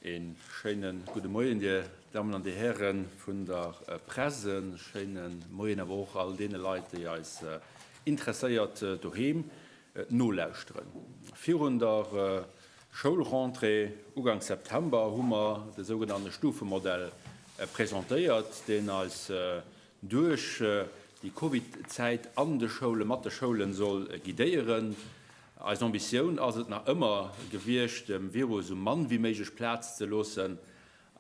Een schéinen gudde Moien Dir Dammen an Dir Hären vun der äh, Presse, schéinen Moien awer och all deene Leit, déi eis äh, interesséiert äh, doheem äh, nolauschteren. Virun der äh, Schoulrentrée ugangs September hu mer de sougenannte Stufemodell äh, presentéiert, deen eis äh, duerch déi Covid-Zäit an de Schoule mat de Schoule soll guidéieren. Eis Ambitioun ass et nach ëmmer gewiescht, dem Virus esou mann wéi méiglech Plaz ze loossen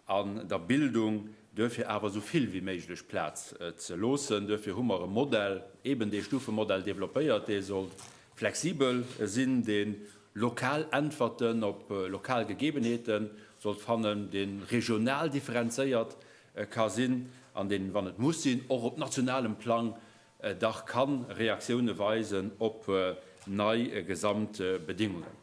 an der Bildung duerfir awer esou vill wéi méiglech Plaz ze loossen. Duerfir hu mer e Modell, eben dee Stufemodell développéiert, dee soll flexibel sinn, dee lokal Äntwerten op lokal Gegebenheete sollt fannen, dee regional differenzéiert ka sinn an deen, wann et muss sinn, och op nationalem Plang dach ka Reaktioune weisen op nei Gesamtbedingungen.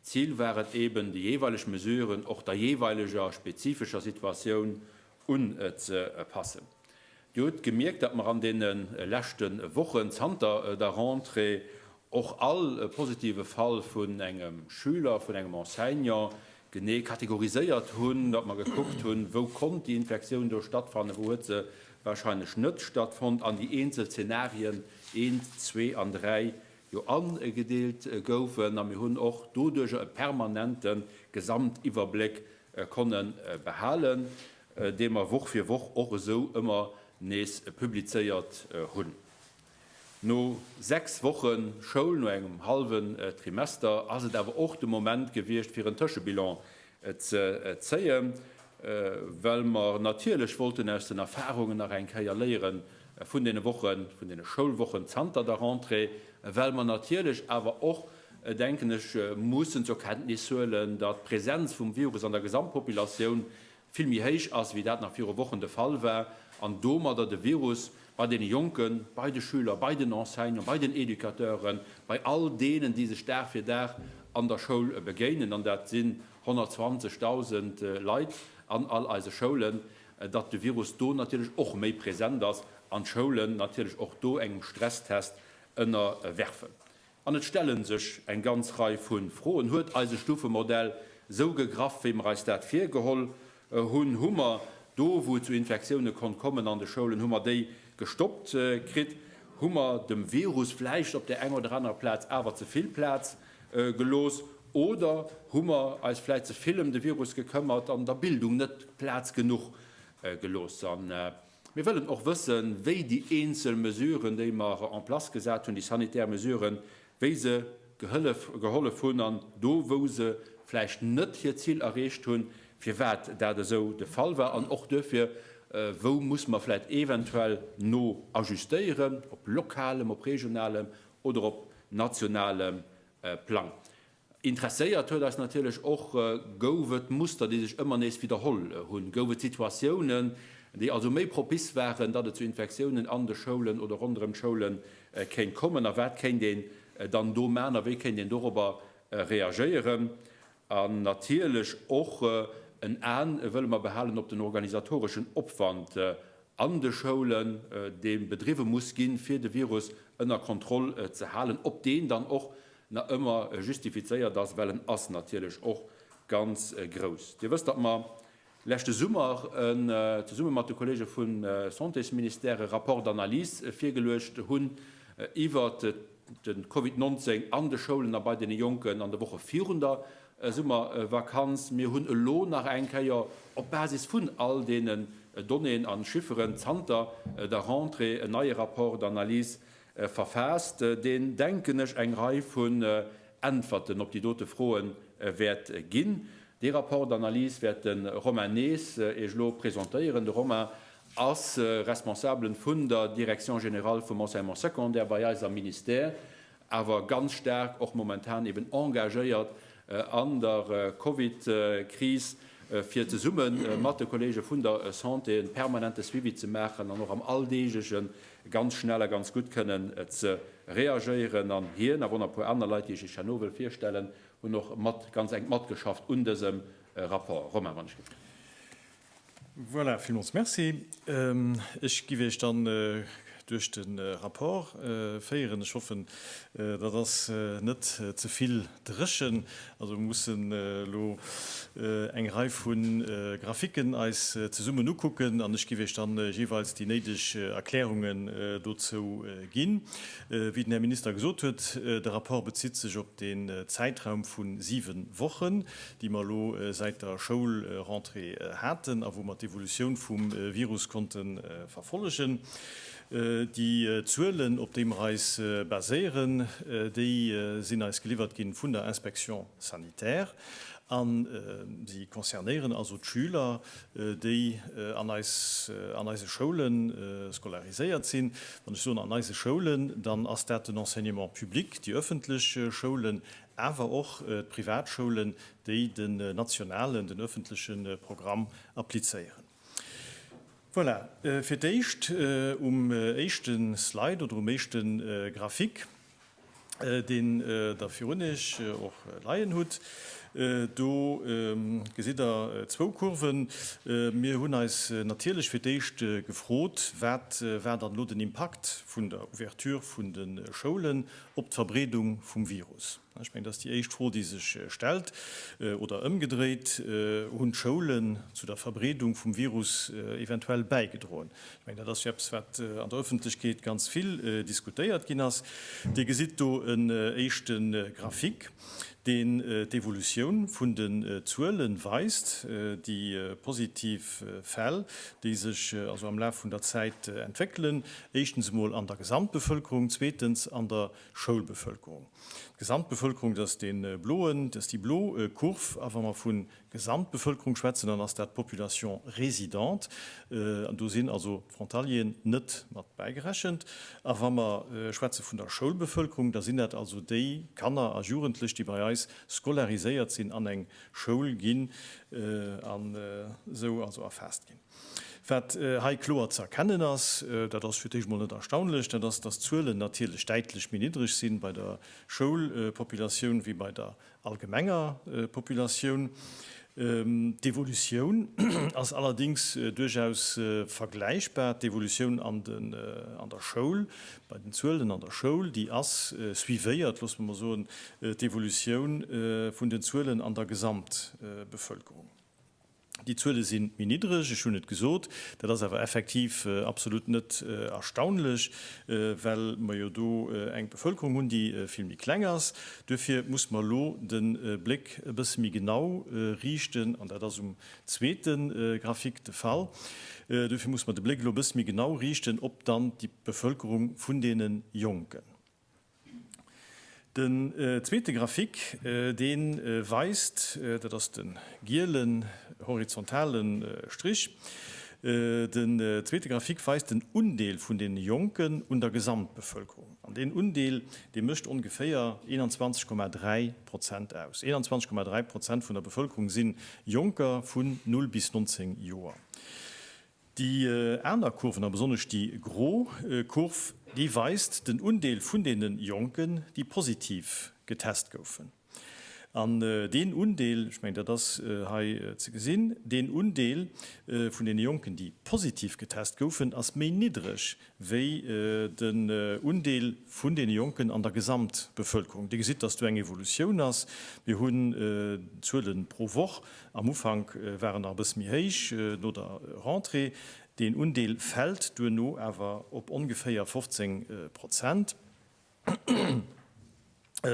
Zil war et eben, déi jeeweileg Mesuren och der jeeweileger spezifescher Situatioun unzepassen. Dir hutt gemierkt, datt mer an deene leschte Wochen zanter der Rentrée Och all positive Fall vun engem Schüler, vun engem Enseignant genee kategoriséiert hunn, datt mer gekuckt hunn, wou konnt déi Infektioun do stattfannen, wou huet se warscheinlech net stattfonnt, an déi eenzel Zenarien eent, zwee an dräi jo agedeelt goufen. A mir hunn och doduerjer e permanente Gesamtiwwerbléck konne behalen, dee mer Woch fir Woch och esou ëmmer nees publizéiert hunn. No 6 Woche Schoul, no engem hallwen Trimester ass et awer och de Moment gewiescht fir en Tëschebilan ze zéie well mer natierlech wollten aus den Erfarungen nach eng Kéier léiere vun deene Wochen, vun deene Schoulwochen zanter der Rentrée, well mer natierlech awer och, denken ech, mussen zur Kenntnis huelen, datt d'Presenz vum Virus an der Gesamtpopulatioun vill méi héich ass, wéi dat nach viru Wochen de Fall war, an domadder de Virus bei deene Jonken, bei de Schüler, bei den Enseignanten, bei den Educateuren, bei all deenen, déi sech Dag fir Dag an der Schoul begéinen, an dat sinn 120.000 Leit an all eise Schoulen, datt de Virus do natierlech och méi present ass an d'Schoulen natierlech och do engem Stresstest ënnerwerfen. An et stelle sech eng ganz Rei vu Froen, Huet eise Stufemodell esou gegraff, wéi mer eis dat virgeholl hunn? Hu mer do, wou et zu Infektioune konnt kommen an de Schoulen, hu mer déi gestoppt kritt? Hu mer dem Virus vläicht op där enger oder anerer Plaz awer ze vill Plaz gelooss? Oder hu mer eis vläicht ze vill ëm de Virus gekëmmert an der Bildung net Plaz genuch gelooss? Mir wëllen och wëssen, wéi déi eenzel Mesuren, déi mer en place gesat hunn, déi sanitär Mesuren, wéi se gehëllef, gehollef hunn, an do, wou se vläicht net hiert Zil erreecht hunn, firwat dat esou de Fall war, an och duerfir, wou muss mer vläicht eventuell no ajustéieren, op lokalem, op regionalem oder op nationalem Plang. Interesséiert huet eis natierlech och, Gouf et Muster, déi sech ëmmer nees widderholl hunn? Gouf et Situatiounen, déi also méi propice waren, datt et zu Infektiounen an de Schoulen oder ronderëm d'Schoule kéint kommen? A wat kéint een dann do maachen a wéi kéint een dorobber reagéieren? An natierlech och en A wëlle mer behalen op den organisatoreschen Opwand an de Schoulen, dee bedriwwe muss ginn, fir de Virus ënner Kontroll ze halen, ob deen dann och nach ëmmer justifizéiert ass, well en ass natierlech och ganz grouss. Dir wësst, datt mer leschte Summer zesumme mat de Kollege vum Santésministère e Rapport d'analyse virgeluecht hunn iwwert de Covid 19 an de Schoulen a bei deene Jonken an de Woche virun der Summervakanz. Mir hunn elo nach eng Kéier op Basis vun all deenen Donnéeën a Chifferen zanter der Rentrée en neie Rapport d'analyse verfaasst, deen, denken ech, eng Rei vun Äntwerten op déi dote Froe wäert ginn. Dee Rapport d'analyse wäert de Romain Nehs Iech elo presentéieren. De Romain ass Responsablen vun der Direction générale vum Enseignement secondaire bei eis am Ministère, awer ganz staark och momentan eben engagéiert an der Covid-Kris, fir zesumme mat de Kollege vun der Santé e permanente Suivi ze maachen an och am alldeeglegen ganz schnell a ganz gutt kënnen ze reagéieren an hien a wonner puer aner Leit, déi ech lech herno wëll virstellen, hunn och mat ganz enk matgeschafft un dësem Rapport. Romain, wann ech gelift. Voilà, villmools Merci. Ech giff Iech dann duerch de Rapport féieren. Ech hoffen, dat ass net ze vill. Dréchen, also mussen elo eng Rei vu Graphiken eis zesummen ukucken an ech giff Iech dann jeeweils déi néideg Erklärungen dozou ginn. Wéi den Här Minister gesot huet, de Rapport bezitt sech op den Zäitraum vu siwe Wochen, déi mer elo säit der Schoulrentrée haten a wou mer d'Evolutioun vum Virus konnte verfollegen. Déi Zuelen, op déi mer eis baséieren, déi sinn eis geliwwert gi vun der Inspection sanitaire a si concernéieren also d'Schüler, déi an eise Schoule scolariséiert sinn. Wann ech soen an eise Schoulen, dann ass dat den Enseignement public, déi ëffentlech Schoulen, awer och d'Privatschoulen, déi den nationalen, den ëffentleche Programm applizéieren. Voilà, fir d'éischt um éischte Slide oder um éischte Graphic, deen Der virun Iech och leien hutt. Do gesitt Der zwou Kurven. Mir hunn eis natierlech fir d'éischt gefrot, wat war dann elo den Impakt vun der Ouverture vun de Schoulen op d'Verbreedung vum Virus? Ech mengen, dass déi éischt Fro, déi sech stellt, oder ëmgedréit, Hunn d'Schoulen zu der Verbreedung vum Virus eventuell bäigedroen? Ech mengen, dat ass jo eppes, wat an der Öffentlechkeet ganz vill diskutéiert ginn ass. Dir gesitt do en éischte Graphique, deen d'Evolutioun vun den Zuele weist, déi positiv Fäll, déi sech also am Laf vun der Zäit entwéckelen, éischtens emol an der Gesamtbevëlkerung, zweetens an der Schoulbevölkerung. D'Gesamtbevölkerung, dat ass dee bloen, dat ass déi blo Kurv. A wa mer vu Gesamtbevölkerung schwätzen, dann ass dat d'Population résidente. An do sinn also d'Frontalieren net mat bäigerechent. A wa mer schwätze vun der Schoulbevölkerung, da sinn dat also déi Kanner a Jugendlech, déi bei eis scolariséiert sinn, an eng Schoul ginn an esou also erfaasst ginn. Wat hei kloer ze erkennen ass, dat ass fir d'éischt emol net erstaunlech, dat ass, dass d'Zuelen natierlech däitlech méi niddreg si bei der Schoulpopulatioun wéi bei der allgemenger Populatioun. D'Evolutioun ass allerdéngs duerchaus vergläichbar, d'Evolutioun an der Schoul, bei den Zuelen an der Schoul, déi ass suivéiert, loosse mer mol soen, d'Evolutioun vun den Zuelen an der Gesamtbevölkerung. Déi Zuele si méi niddreg, ech hunn et gesot. Dat ass awer effektiv absolut net erstaunlech, well mer jo do eng Bevëlkerung hunn, déi vill méi kleng ass. Duerfir muss mer elo de Bléck e bësse méi genau riichten, an dat ass um zweete Graphique de Fall, duerfir muss mer de Bléck elo e bësse méi genau riichten op dann déi Bevëlkerung vun deene Jonken. Den zweete Graphic, dee weist, dat ass de gielen horizontale Strich, den zweete Graphic weist den Undeel vun deene Jonken un der Gesamtbevölkerung. An deen Undeel, dee mécht ongeféier 21,3 Prozent aus. 21,3 Prozent vun der Bevölkerung si Jonker vun 0 bis 19 Joer. Déi aner Kurven, a besonnesch déi gro Kurv, déi weist den Undeel vun deene Jonken, déi positiv getest goufen. An deen Undeel, ech mengen, dat ass hei ze gesinn, deen Undeel vun deene Jonken, déi positiv getest goufen, ass méi niddreg wéi den Undeel vun deene Jonken an der Gesamtbevölkerung. Dir gesitt, dass do eng Evolutioun ass. Mir hunn d'Zuele pro Woch. Am Ufank war en nach e bësse méi héich, no der Rentrée. Deen Undeel fält duerno awer op ongeféier 15 Prozent.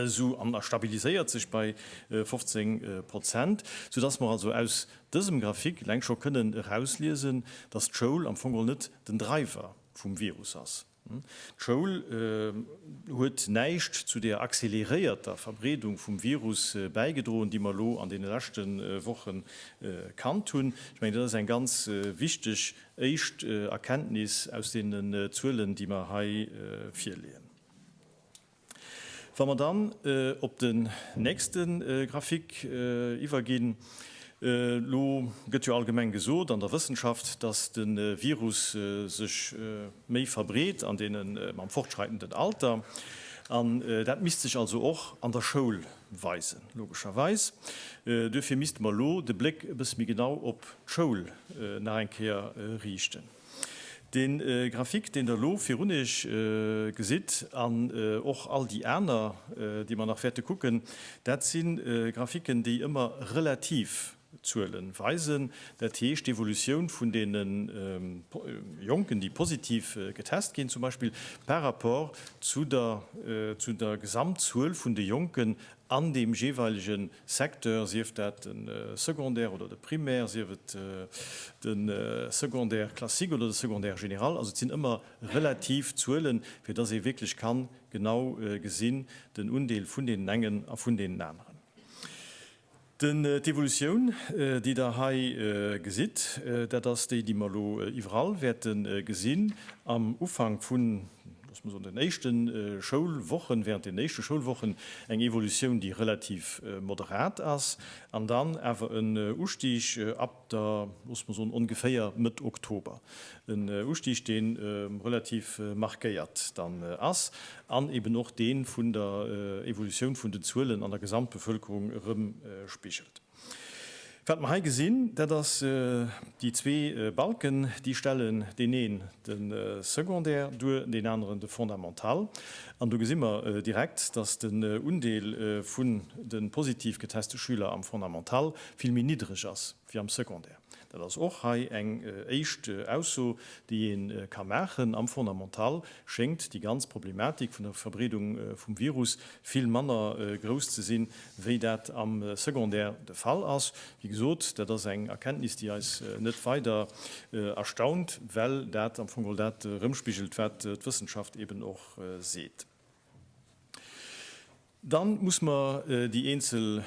sou, an a stabiliséiert sech bei 15 Prozent, soudass mer also aus dësem Graphique eleng scho kënnen erausliesen, dass d'Schoul am Fong geholl net den Driver vum Virus ass. D'Schoul huet näischt zu der accéléréierter Verbreedung vum Virus bäigedroen, déi mer elo an deene leschte Woche kannt hunn. Ech mengen, dat ass eng ganz wichteg Éischt Erkenntnis aus deenen Zuelen, déi mer hei virleeën. Wa mer dann op den nächste Grafik iwwerginn, elo gëtt jo allgemeng gesot an der Wëssenschaft, dass de Virus sech méi verbreet an deene mam fortschreitenden Alter. An dat misst sech also och an der Schoul weisen, logescherweis. Duerfir misste mer elo de Bléck e bësse méi genau op d'Schoul nach eng Kéier riichten. Dee Graphique, deen Der elo virun Iech gesitt, an och all déi aner, déi mer nach wäerte kucken, dat si Graphiquen, déi ëmmer relativ D'Zuele weisen, dat heescht d'Evolutioun vun deene Jonken, déi positiv getest ginn zum Beispill, par rapport zu der Gesamtzuel vun de Jonken an deem jeeweilege Secteur, sief dat de Secondaire oder de Primaire, sief et de Secondaire classique oder de Secondaire général. Also et sinn ëmmer relativ Zuelen, fir datt ee wierklech ka genau gesinn, den Undeel vun deenen engen a vun deenen aneren. D'Evolutioun, déi Der hei gesitt, dat ass déi, déi mer elo iwwerall wäerte gesinn. Am Ufank vun, loosse mer soen, den éischte Schoulwochen, während den éischte Schoulwochen eng Evolutioun, déi relativ moderat ass, an dann awer en Ustig ab da loosse mer soen ongeféier Mëtt Oktober, en Ustig deen relativ markéiert dann ass an eben och deen vun der Evolutioun vun den Zuelen an der Gesamtbevölkerung erëmspigelt. Wat mer hei gesinn, dat ass déi zwee Balken, déi stellen deen een de Secondaire duer, deen aneren de Fondamental an do gesi mer direkt, dass den Undeel vun de positiv geteste Schüler am Fondamental vill méi niddreg ass wéi am Secondaire. Dat ass och hei eng éischt Ausso, déi ee ka maachen. Am Fondamental schéngt déi ganz Problematik vun der Verbreedung vum Virus vill manner grouss ze sinn, wéi dat am Secondaire de Fall ass. Wéi gesot, dat ass eng Erkenntnis, déi eis net weider erstaunt, well dat am Fong geholl dat erëmspigelt, wat d'Wëssenschaft eben och seet. Dann muss mer déi eenzel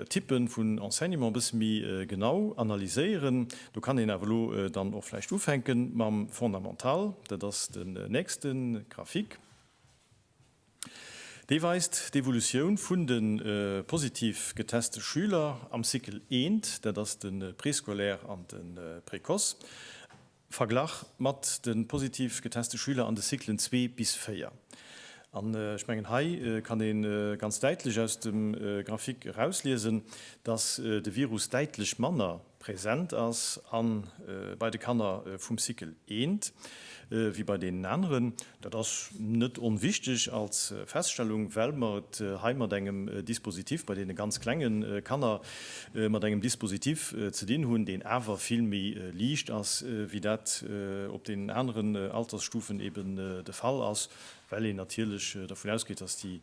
Typen vun Enseignement e bësse méi genau analyséieren. Do kann een awer elo dann och vläicht ufänken mam Fondamental. Dat ass den nächsten Graphique. Dee weist d'Evolutioun vun de positiv geteste Schüler am Cycle I, dat ass den Préscolaire an den Précoce. Verglach mat de positiv geteste Schüler an de Cyclen 2 bis 4. An ech mengen, hei kann ee ganz däitlech aus dem Graphique erausliesen, dass de Virus däitlech manner präsent ass bei de Kanner vum Cycle 1 wéi bei deenen aneren. Dat ass net onwichtig als Feststellung, well mer et hei mat engem Dispositif bei deene ganz klenge Kanner, mat engem Dispositif ze dinn hunn, deen awer vill méi liicht ass, wéi dat op deenen aneren Altersstufen eben de Fall ass, well een natierlech dervun ausgeet, dass déi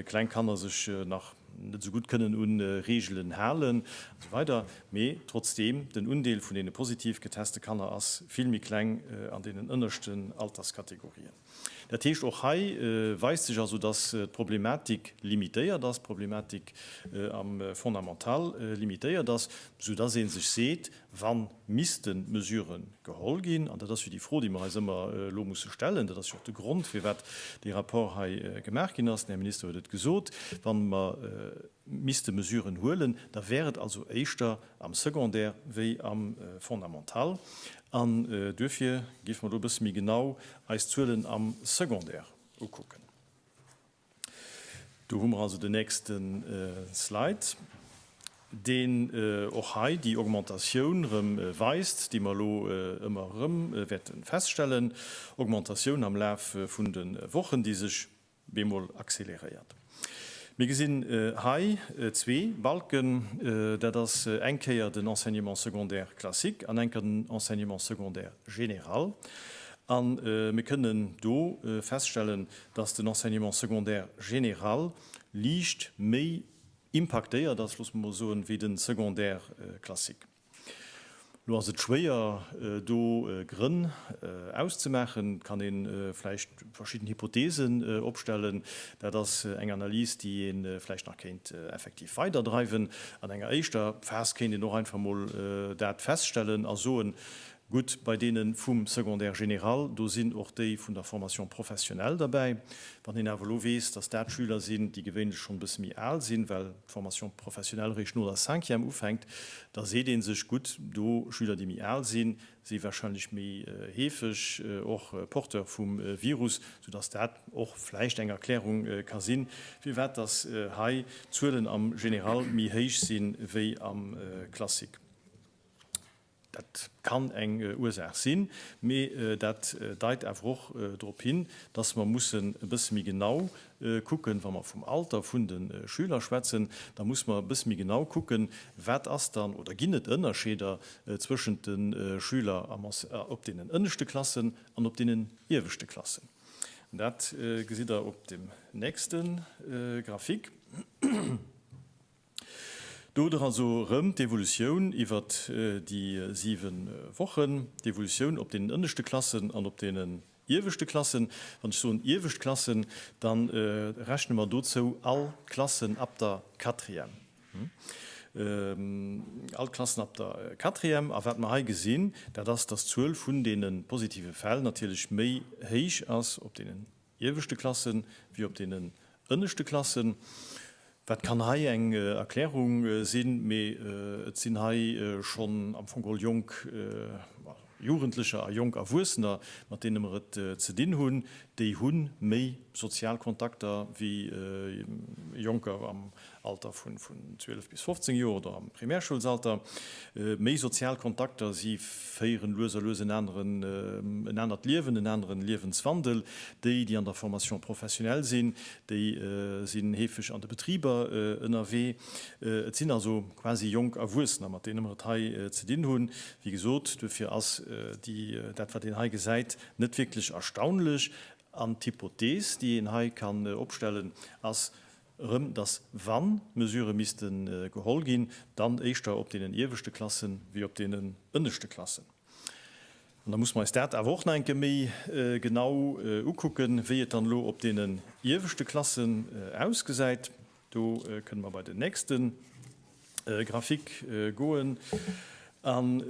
kleng Kanner sech nach. net esou gutt kënnen u Reegelen halen an esou weider Mee trotzdeem, den Undeel vun deene positiv geteste Kanner ass vill méi kleng an deenen ënneschten Alterskategorien. Dat heescht, och hei weist sech also, datt d'Problematik limitéiert ass, d'Problematik am Fondamental limitéiert ass, soudatt ee sech seet, wa misste Mesurë geholl ginn, an dat ass jo déi Fro, déi mer eis ëmmer elo musse stellen, dat ass jo och de Grond, firwat dee Rapport hei gemaach ginn ass, den Här Minister huet et gesot, wa mer misste Mesuren huelen, da wär et also éischter am Secondaire wéi am Fondamental. An duerfir géife mer elo e bësse méi genau eis d'Zuelen am Secondaire ukucken. Do hu mer also den nächste Slide, deen och hei déi Augmentatioun erëm weist, déi mer elo ëmmer erëm wäerte feststellen, Augmentatioun am Laf vun de Wochen, déi sech bemol accéléréiert. Mir gesinn hei zwee Balken, dat ass eng Kéier den Enseignement secondaire classique an eng Kéier den Enseignement secondaire général. A mir kënnen do feststellen, dass den Enseignement secondaire général liicht méi impaktéiert ass, loosse mer mol soen, wéi de Secondaire classique. Elo ass et schwéier, do Grënn auszemaachen. Et kann ee vläicht verschidden Hypotheesen opstellen. Dat ass eng Analys, déi ee vläicht nach kéint effektiv weiderdreiwen. An enger éischter Phas kéint een och einfach mol dat feststellen a soen, Gutt, bei deene vum Secondaire général, do sinn och déi vun der Formation professionnelle derbäi. Wann een awer elo weess, dass dat Schüler sinn, déi gewéinlech schonn e bësse méi al sinn, well d'Formation professionnelle eréischt no der Cinquième ufänkt, da seet ee sech, Gutt, do Schüler, déi méi al sinn, si warscheinlech méi heefeg och Porteur vum Virus, soudass dat och vläicht eng Erklärung ka sinn, firwat dass hei d'Zuelen am Général méi héich sinn, wéi am Classique. Dat kann eng Ursaach sinn, mee dat deit awer och drop hin, dass mer mussen e bësse méi genau kucken, wa mer vum Alter vun de Schüler schwätzen, da muss mer e bësse méi genau kucken, wat ass dann oder ginn et Ënnerscheeder zwëschent de Schüler op deenen ënneschte Klassen an op deenen ieweschte Klassen. Dat gesitt Der op dem nächste Graphique. Do dra so rëm d'Evolutioun iwwer déi 7 Wochen, d'Evolutioun op deenen ënneschte Klassen an op deenen ieweschte Klassen. Wann ech soen iewescht Klassen, da rechne mer dozou all d'Klassen ab der Quatrième. All d'Klassen ab der Quatrième. A wat mer hei gesinn, dat ass, dass d'Zuel vun deene positive Fäll natierlech méi héich ass op deenen ieweschte Klasse wéi op deenen ënneschte Klassen. Dat kann hei eng Erklärung sinn, mee et sinn hei schonn am Fong geholl jonk Jugendlecher a jonk Erwuessener, mat deene mer et ze dinn hunn. Déi hu méi sozial Kontakter wéi Jonker Alter vun 12 bis 15 Joer oder am Primärschoulsalter, méi sozial Kontakter, si féieren lues a lues en aneren, en anert Liewen, en aneren Liewenswandel. Déi, déi an der Formation professionnelle sinn, déi sinn heefeg an de Betriber ënnerwee. Et sinn also quasi jonk Erwuessener, mat deene mer et hei ze dinn hunn. Wéi gesot, duerfir ass déi, dat wat een hei gesäit, net wierklech erstaunlech. An d'Hypothees, déi een hei kann opstellen, ass, erëm, dass wann Mesurë misste geholl ginn, dann éischter op deenen ieweschte Klasse wéi op deenen ënneschte Klassen. An da musse mer eis dat awer och nach eng Kéier méi genau ukucken, wéi et dann elo op deenen ieweschte Klassen ausgesäit. Do kënne mer bei den nächste. Graphique goen an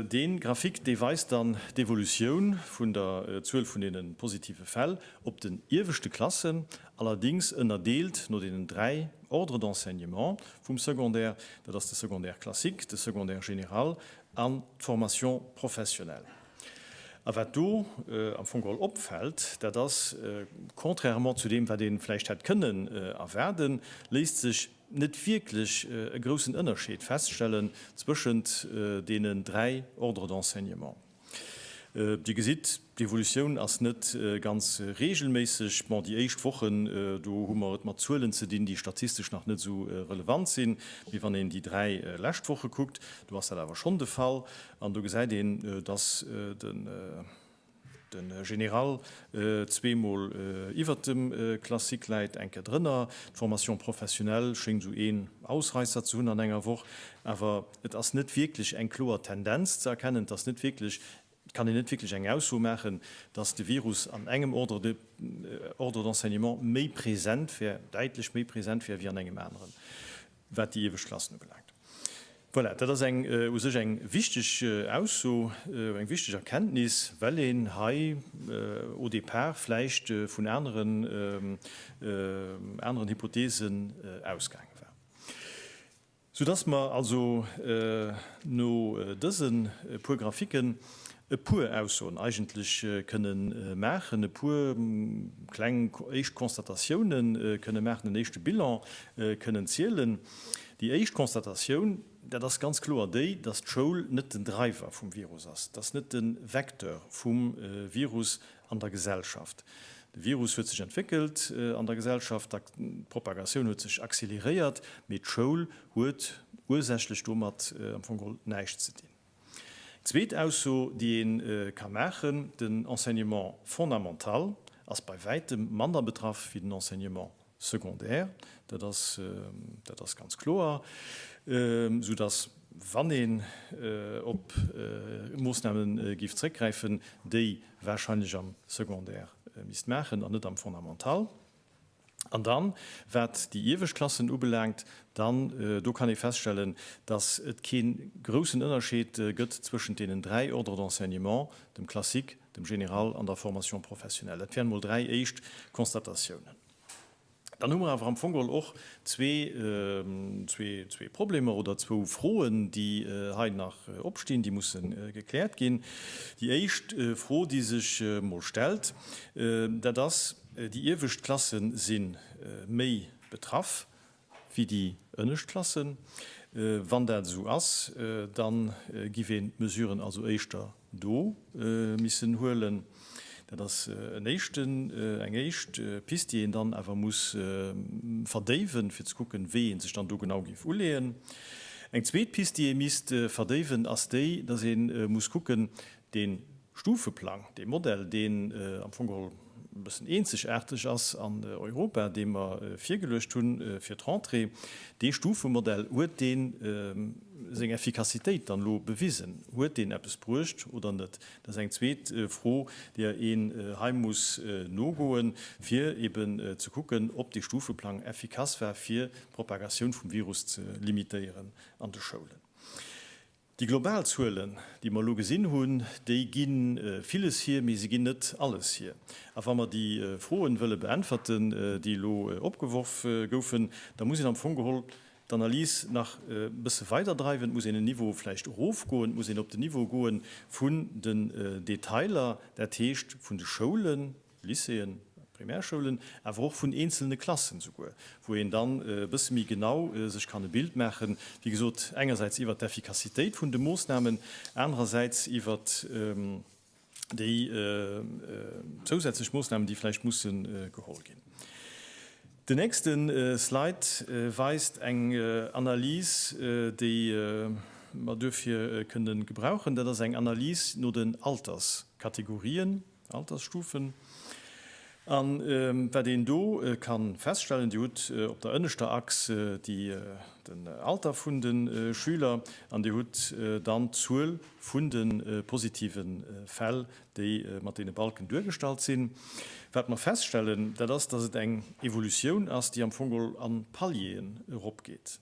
dee Graphique dee weist dann d'Evolutioun vun der Zuel vun deene positive Fäll op den ieweschte Klassen, allerdings ënnerdeelt no deenen dräi Ordres d'enseignement vum Secondaire, dat ass de Secondaire classique, de Secondaire général an d'Formation professionnelle. A wat do am Fong geholl opfält, dat ass, contrairement zu deem wat ee vläicht hätt kënnen erwaarden, léisst sech, net wierklech e groussen Ënnerscheed feststellen zwëschent deenen dräi Ordres d'enseignement. Dir gesitt, d'Evolutioun ass net ganz reegelméisseg. Bon, déi éischt Wochen, do hu mer et mat Zuelen ze dinn, déi statistesch nach net esou relevant sinn. Mee wann een déi dräi lescht Woche kuckt, do ass dat awer schonn de Fall. An do gesäit een, dass de. De Général zwee mol iwwert dem Classique läit, eng Kéier drënner. D'Formation professionnelle schéngt esou een Ausreisser ze hunn an enger Woch. Awer et ass net wierklech eng kloer Tendenz ze erkennen. Et ass net wierklech, et kann een net wierklech eng Ausso maachen, dass de Virus an engem Ordre de, Ordre d'enseignement méi present wär, däitlech méi present wär wéi an engem aneren. wat déi iewescht Klassen ubelaangt. Voilà, dat ass eng u sech eng wichteg Ausso, eng wichteg Erkenntnis, well een hei au départ vläicht vun aneren, aneren Hypothesen ausgaange war. Soudass mer also no dëse puer Graphiken, e puer Aussoen eigentlech kënne maachen, e puer kleng éischt Constatatiounen kënne maachen, en éischte Bilan kënnen zielen. Déi éischt Constatatioun, dat ass ganz kloer déi, dass d'Schoul net den Driver vum Virus ass, dass net de Vecteur vum Virus an der Gesellschaft. De Virus huet sech entwéckelt an der Gesellschaft, d'Propagatioun huet sech accéléréiert, mee d'Schoul huet ursächlech domat am Fong geholl näischt ze dinn. Zweet Ausso, déi ee ka maachen, Den Enseignement fondamental ass bei wäitem manner betraff wéi den Enseignement secondaire. Dat ass, dat ass ganz kloer. Soudass, wann een op Moosname giff zréckgräifen, déi warscheinlech am Secondaire misst maachen an net am Fondamental. An dann, wat déi iewescht Klassen ubelaangt, dann, do kann ee feststellen, dass et kee groussen Ënnerscheed gëtt zwëschent deenen dräi Ordres d'enseignement, dem Classique, dem Général an der Formation professionnelle. Dat wären mol dräi éischt Constatatiounen. Dann hu mer awer am Fong geholl och zwee, zwee Problemer oder zwou Froen, déi hei nach opstinn, déi musse gekläert ginn. Déi éischt Fro, déi sech mol stellt, dat ass, Déi iewescht Klasse si méi betraff wéi déi ënnescht Klassen. Wann dat esou ass, da giff een d'Mesuren also éischter do missen huelen. Dat ass en éischten, eng éischt Pist, déi een dann awer muss verdéiwen, fir ze kucken, wéi ee sech dann do genau géif uleeën. Eng zweet Pist, déi ee misst verdéiwen, ass déi, dass ee muss kucken, De Stufeplang, dee Modell, deen am Fong geholl e bëssen eenzegaarteg ass an Europa, dee mer virgeluecht hu fir d'Rentrée, dee Stufemodell, huet dee seng Effikassitéit dann elo bewisen? Huet deen eppes bruecht oder net? Dat ass eng zweet Fro, där een hei muss nogoen, fir eben ze kucken, ob dee Stufeplang effikass war, fir d'Propagatioun vum Virus ze limitéieren an de Schoulen. Déi global Zuelen, déi mer elo gesinn hunn, déi gi villes hier, mee se ginn net alles hier. A wa mer déi Froen wëlle beäntwerten, déi elo opgeworf goufen, da muss een am Fong geholl d'Analys nach e bësse weiderdreiwen, et muss een en Niveau vläicht erofgoen, et muss een op den Niveau goe vu den Detailer, dat heescht vun de Schoulen, Lycéeën, Primärschoulen, awer och vun eenzelne Klassen esouguer, wou een dann e bësse méi genau sech kann e Bild maachen, wéi gesot, engersäits iwwert d'Effikassitéit vun de Moosnamen, anerersäits iwwert déi zousätzlech Moosnamen, déi vläicht musse geholl ginn. Den nächste Slide weist eng Analys, déi mer duerfir kënnen gebrauchen. Dat ass eng Analys no den Alterskategorien. Altersstufen. An wat een do ka feststellen, Dir hutt op der ënneschter Achs den Alter vun de Schüler an Dir hutt dann d'Zuel vun de positive Fäll, déi mat deene Balken duergestallt sinn. Wat mer feststellen, dat ass, dass et eng Evolutioun ass, déi am Fong geholl a Palieren eropgeet.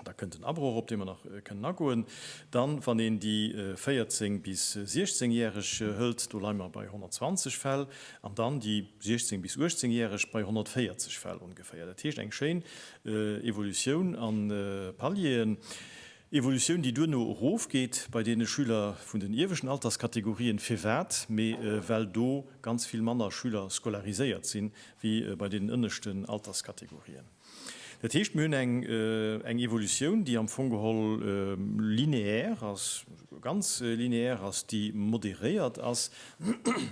Da kënnt en Abroch, op dee mer nach kënnen agoen. Dann, wann een déi 14 bis 16 Järeg hëlt, do leie mer bei 120 Fäll, an dann déi 16 bis 18 Järeg bei 140 Fäll ongeféier. Dat heescht eng schéin Evolutioun a Palieren. Evolutioun, déi duerno erofgeet bei deene Schüler vun den ieweschten Alterskategorien. Firwat? Mä well do ganz vill manner Schüler scolariséiert sinn, wéi bei deenen ënneschten Alterskategorien. Dat heescht, mir hunn eng, eng Evolutioun, déi am Fong geholl lineaire ass, ganz lineaire ass, déi moderéiert ass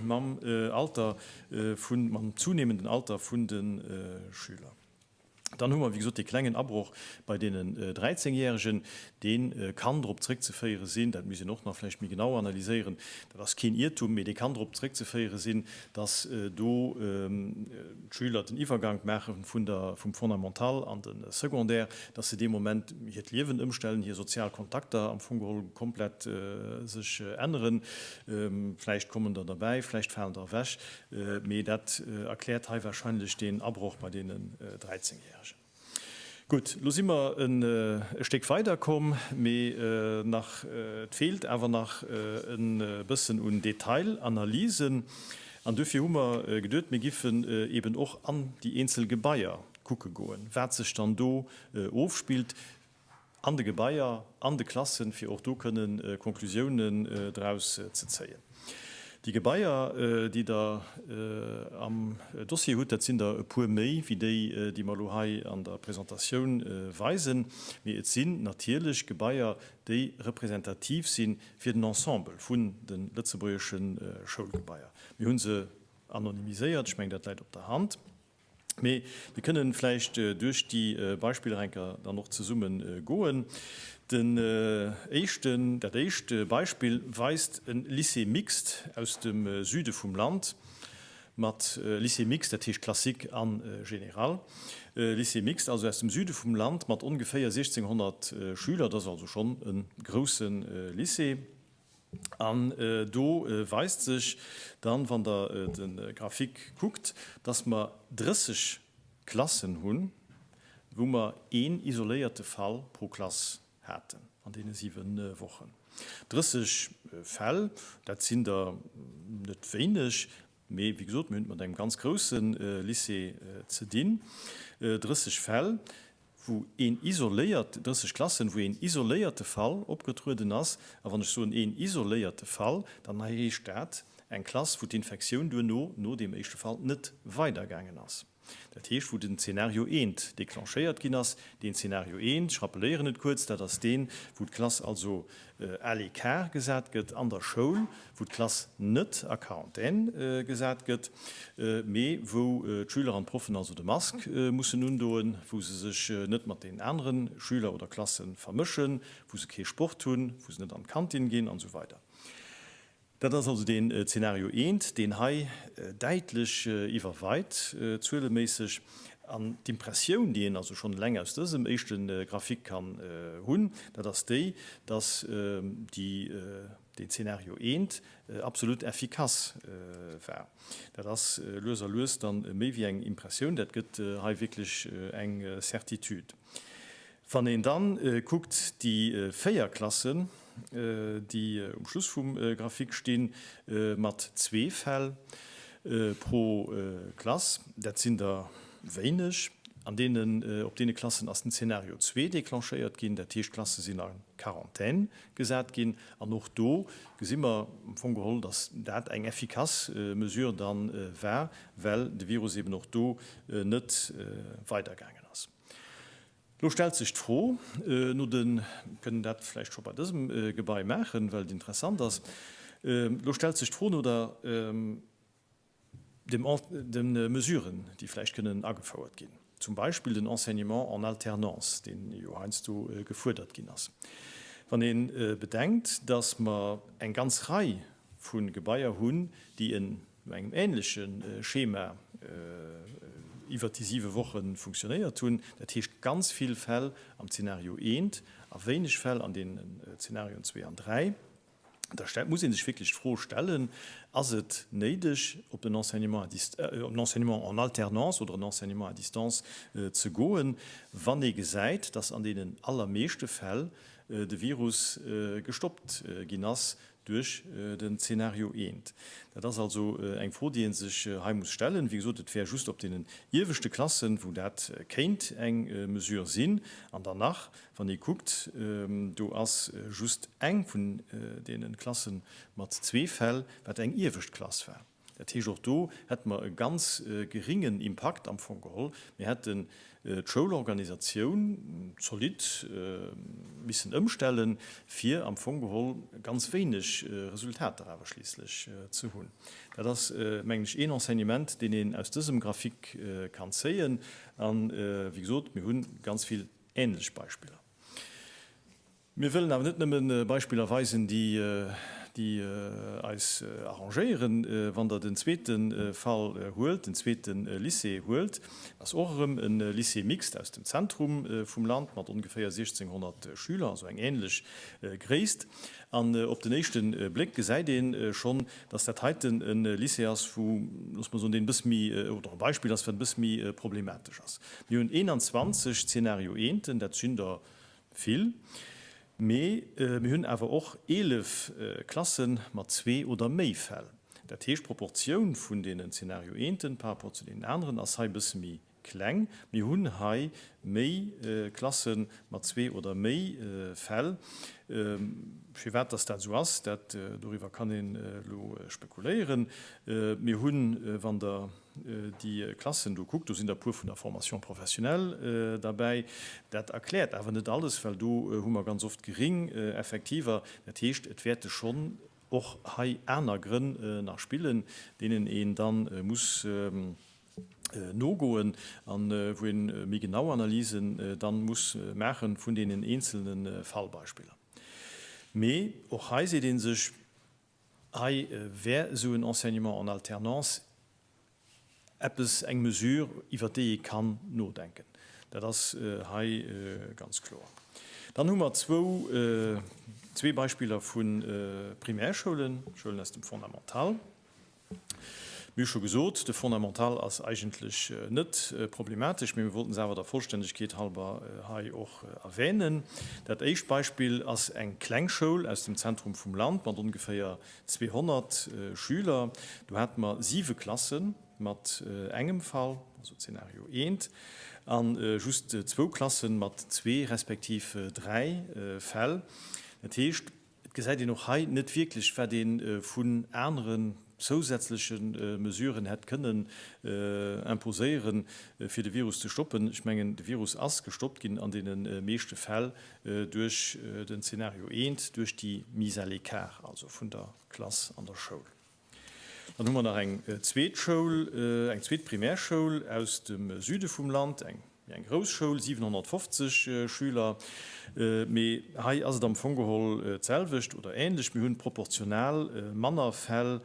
mam Alter vun, mam zunehmenden Alter vun de Schüler. Dann hu mer, wéi gesot, dee klengen Abroch bei deenen 13 Jähregen, dee kann drop zrëckzeféiere sinn, dat misst een och nach vläicht méi genau analyséieren, dat ass keen Iertum, mee dee kann drop zrëckzeféiere sinn, dass do d'Schüler den Iwwergank maache vum Fondamental an de Secondaire, dass se dee Moment hiert Liewen ëmstellen, hir sozial Kontakter am Fong geholl komplett sech änneren. Vläicht kommen der derbäi, vläicht falen der ewech, mee dat erkläert hei wahrscheinlech deen Abroch bei deenen Dräizengjähregen. Gutt, lo si mer en e Stéck weider komm, mee nach, et feelt awer nach e bëssen un Detailanalysen. An duerfir hu mer geduet, mir giffen eeben och an déi eenzel Gebaier kucke goen, wat sech dann do ofspillt, an de Gebaier, an de Klassen, fir och do kënne Conclusiounen draus ze zéien. Déi Gebaier, déi Der am Dossier hutt, dat sinn der e puer méi wéi déi, déi mer elo hei an der Presentatioun weisen, mee et sinn natierlech Gebaier, déi representativ si fir den Ensemble vun de lëtzebuergesche Schoulgebaier. Mir hu se anonymiséiert, ech mengen, dat läit op der Hand. Mee mir kënnen vläicht duerch déi Beispiller enker dann och zesumme goen. Den éischten, dat éischt Beispill weist e Lycée mixte aus dem Süde vum Land mat, Lycée mixte, dat heescht classique a général, Lycée mixte also aus dem Süde vum Land mat ongeféier 1.600 Schüler, dat ass also schonn e grousse Lycée. An do weist sech dann, wann Der de Grafik kuckt, dass mer 30 Klassen hunn, wou mer een isoléierte Fall pro Klass haten an deene siwen Wochen. 30 Fäll, dat sinn der net wéineg. Mee wéi gesot, mir hunn et mat engem ganz grousse Lycée ze dinn. 30 Fäll, wou een isoléiert, 30 Klassen, wou een isoléierte Fall opgetrueden ass. A wann ech soen een isoléierte Fall, dann heescht dat eng Klass, wou d'Infektioun duerno, no deem éischte Fall, net weidergaangen ass. Dat heescht, wou den Zeenario eent declenchéiert ginn ass. Deen Zeenario eent, ech rappelléieren et kuerz, dat ass deen, wou d'Klass also à l'écart gesat gëtt an der Schoul, wou d'Klass net a Quarantaine gesat gëtt, mee wou d'Schüler an d'Proffen also de Mask mussen undoen, wou se sech net mat deenen anere Schüler oder Klasse vermëschen, wou se kee Sport hunn, wou se net an d'Kantin ginn an esou weider. Dat ass also deen Zeenario eent, deen hei däitlech iwwerweit zueleméisseg. An d'Impressioun, déi een also schonn eleng aus dësem éischte Graphique kann hunn, dat ass déi, dass déi deen Zeenario eent absolut effikass war. Dat ass lues a lues dann méi wéi eng Impressioun, dat gëtt hei wierklech eng Certitude. Wann een dann kuckt déi véier Klassen, déi um Schluss vum Graphique stinn, mat zwee Fäll pro Klass, dat sinn der wéineg. An deenen, op deene Klassen ass den Zeenario zwee declenchéiert ginn, dat heescht d'Klasse sinn en Quarantaine gesat ginn. An och do gesi mer am Fong geholl, dass dat eng effikass Mesure dann war, well de Virus eben och do net weidergaangen ass. Lo stellt sech d'Fro no de, mir kënnen dat vläicht scho bei dësem Gebai maachen, well et interessant ass, lo stellt sech d'Fro no der, de Mesuren, déi vläicht kënnen agefouert ginn, zum Beispill den Enseignement en alternance, deen jo heiansdo gefuerdert ginn ass. Wann ee bedenkt, dass mer eng ganz Rei vu Gebaier hunn, déi e no engem ähnleche Schema iwwert déi siwe Woche funktionéiert hunn, dat heescht ganz vill Fäll am Zeenario I a wéineg Fäll an deenen Zeenarioen zwee an dräi, da muss ee sech wierklech d'Fro stellen, Ass et néideg, op den Enseignement en alternance oder en Enseignement à distance ze goen, wann ee gesäit, dass an deenen allermeeschte Fäll de Virus gestoppt ginn ass, duerch den Zeenario I. Dat ass also eng Fro, déi ee sech hei muss stellen. Wéi gesot, et wär just op deenen ieweschte Klassen, wou dat kéint eng Mesure sinn. An dann nach, wann ee kuckt, do ass just eng vun deene Klasse mat zwee Fäll, wat eng iewescht Klass war. Dat heescht, och do hätte mer e ganz geréngen Impakt am Fong geholl. Mir hätten d'Schoulorganisatioun zolidd missen ëmstellen, fir am Fong geholl ganz wéineg Resultater awer schliisslech ze hunn. Dat ass, mengen ech, een Enseignement, deen een aus dësem Graphic kann zéien. A wéi gesot, mir hu ganz vill änlech Beispiller. Mir wëllen awer net nëmmen Beispiller weisen, déi, déi eis arrangéieren. Wann Der den zweete Fall huelt, den zweete Lycée huelt, ass och erëm e Lycée mixte aus dem Zentrum vum Land mat ongeféier 1.600 Schüler, also eng ähnlech Gréisst. An op den éischte Bléck gesäit ee schonn, dass dat heiten e Lycée ass, wou, loosse mer soen, deen e bësse méi, oder e Beispill ass, wat e bësse méi problematesch ass. Mir hunn 21 Zeenario eenten, dat sinn der Vill, mee mir hunn awer och 11 Klasse mat zwee oder méi Fäll. Dat heescht, d'Proportioun vun deenen Zeenario eenten par rapport zu deenen aneren ass hei e bësse méi kleng. Mir hunn hei méi Klasse mat zwee oder méi Fäll. Firwat dass dat esou ass, dat doriwwer kann een elo spekuléieren. Mir hunn, wann Der déi Klassen do kuckt, do sinn der e puer vun der Formation professionnelle derbäi. Dat erkläert awer net alles, well do hu mer ganz oft geréng Effektiver. Dat heescht, et wäerte schonn och hei aner Grënn nach spillen, deenen een da muss nogoen a wou ee méi genau Analysen da muss maache vun deenen eenzelne Fallbeispiller. Mee och hei seet ee sech, Hei wär esou en Enseignement en alternance eppes, eng Mesure, iwwert déi ee kann nodenken. Dat ass hei ganz kloer. Dann hu mer zwou, zwee Beispiller vu Primärschoulen, Schoulen aus dem Fondamental. Wéi scho gesot, de Fondamental ass eigentlech net problematesch, mee mir wollten se awer der Vollstännegkeet halber hei och erwänen. Dat éischt Beispill ass eng kleng Schoul aus dem Zentrum vum Land mat ongeféier 200 Schüler. Do hate mer siwe Klasse mat engem Fall, also Zeenario eent, a just zwou Klasse mat zwee respektiv dräi Fäll. Dat heescht, Et gesäit een och hei net wierklech, wat ee vun aneren zousätzleche Mesuren hätt kënnen imposéiere fir de Virus ze stoppen. Ech mengen, de Virus ass gestoppt ginn an deene meeschte Fäll duerch den Zeenario I, duerch déi Mise à l'écart also vun der Klass an der Schoul. Dann hu mer nach eng zweet Schoul, eng zweet Primärschoul aus dem Süde vum Land, eng méi eng grouss Schoul, 750 Schüler. Mee hei ass et am Fong geholl d'selwecht oder ähnlech, Mir hunn proportional manner Fäll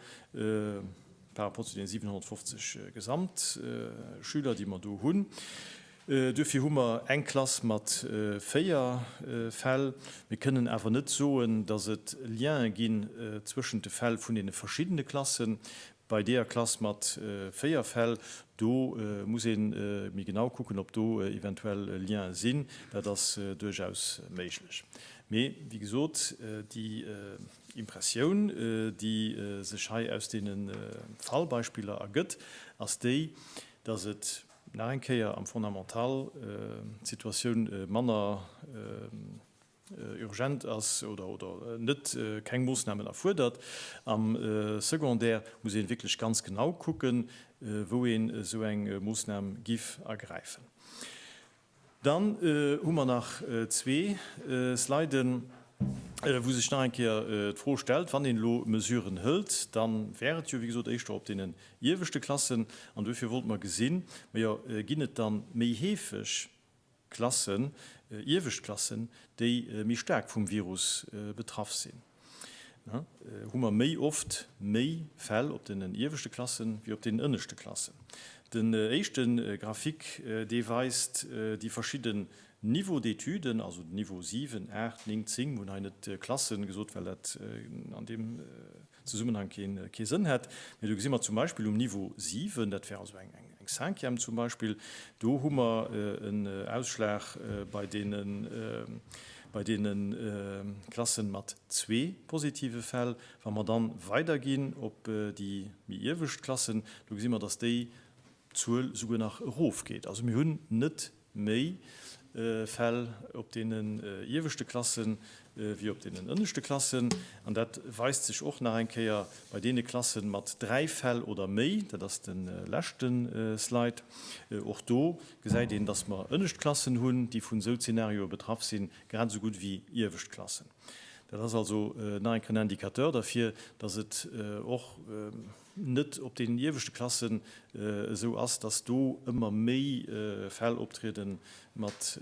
par rapport zu deene 750 Gesamtschüler, déi mer do hunn. Duerfir hu mer eng Klass mat véier Fäll. Mir kënnen awer net soen, dass et Liene ginn zwëschent de Fäll vun deene verschiddene Klassen. Bei deeër Klass mat véier Fäll, do muss ee méi genau kucken, ob do eventuell Liene sinn. Dat ass duerchaus méiglech. Mee, wéi gesot, déi Impressioun, déi sech hei aus deene Fallbeispiller ergëtt, ass déi, dass et, Nach eng Kéier am Fondamental d'Situatioun manner urgent ass oder net keng Moosnamen erfuerdert. Am Secondaire muss ee wierklech ganz genau kucken, wou een esou eng Moosnam giff ergräifen. Dann hu mer nach zwee Sliden, wou sech nach eng Kéier d'Fro stellt, wann een elo Mesuren hëlt, da wär et jo, wéi gesot, éischter op deenen ieweschte Klassen. An duerfir wollte mer gesinn, majo, ginn et da méi heefeg Klassen, iewescht Klassen, déi méi staark vum Virus betraff sinn? hu mer méi oft méi Fäll op den ieweschte Klasse wéi op den ënneschte Klasse. Den éischte Graphique, dee weist déi verschidden Niveaux d'étuden, also den Niveau 7, 8, 9, 10, mir hunn hei net Klasse gesot, well dat an deem Zesummenhang kee Sënn hätt, mä do gesi mer zum Beispill um Niveau 7, dat wär also eng Cinquième zum Beispill, do hu mer en Ausschlag bei deene. Bei deene Klasse mat zwee positive Fäll, wa mer dann weiderginn op déi méi iewescht Klassen, do gesi mer, dass déi Zuel souguer nach erofgeet. Also mir hunn net méi Fäll op deenen ieweschte Klassen wéi op deenen ënneschte Klassen. An dat weist sech och nach eng Kéier bei deene Klassen mat dräi Fäll oder méi, dat ass de leschte Slide. Och do gesäit een, dass mer ënnescht Klassen hunn, déi vun esou Zeenarioe betraff sinn, grad esou gutt wéi iewescht Klassen. Dat ass also nach eng Kéier en Indicateur derfir, dass et och net op deenen ieweschte Klassen esou ass, dass do ëmmer méi Fäll optriede mat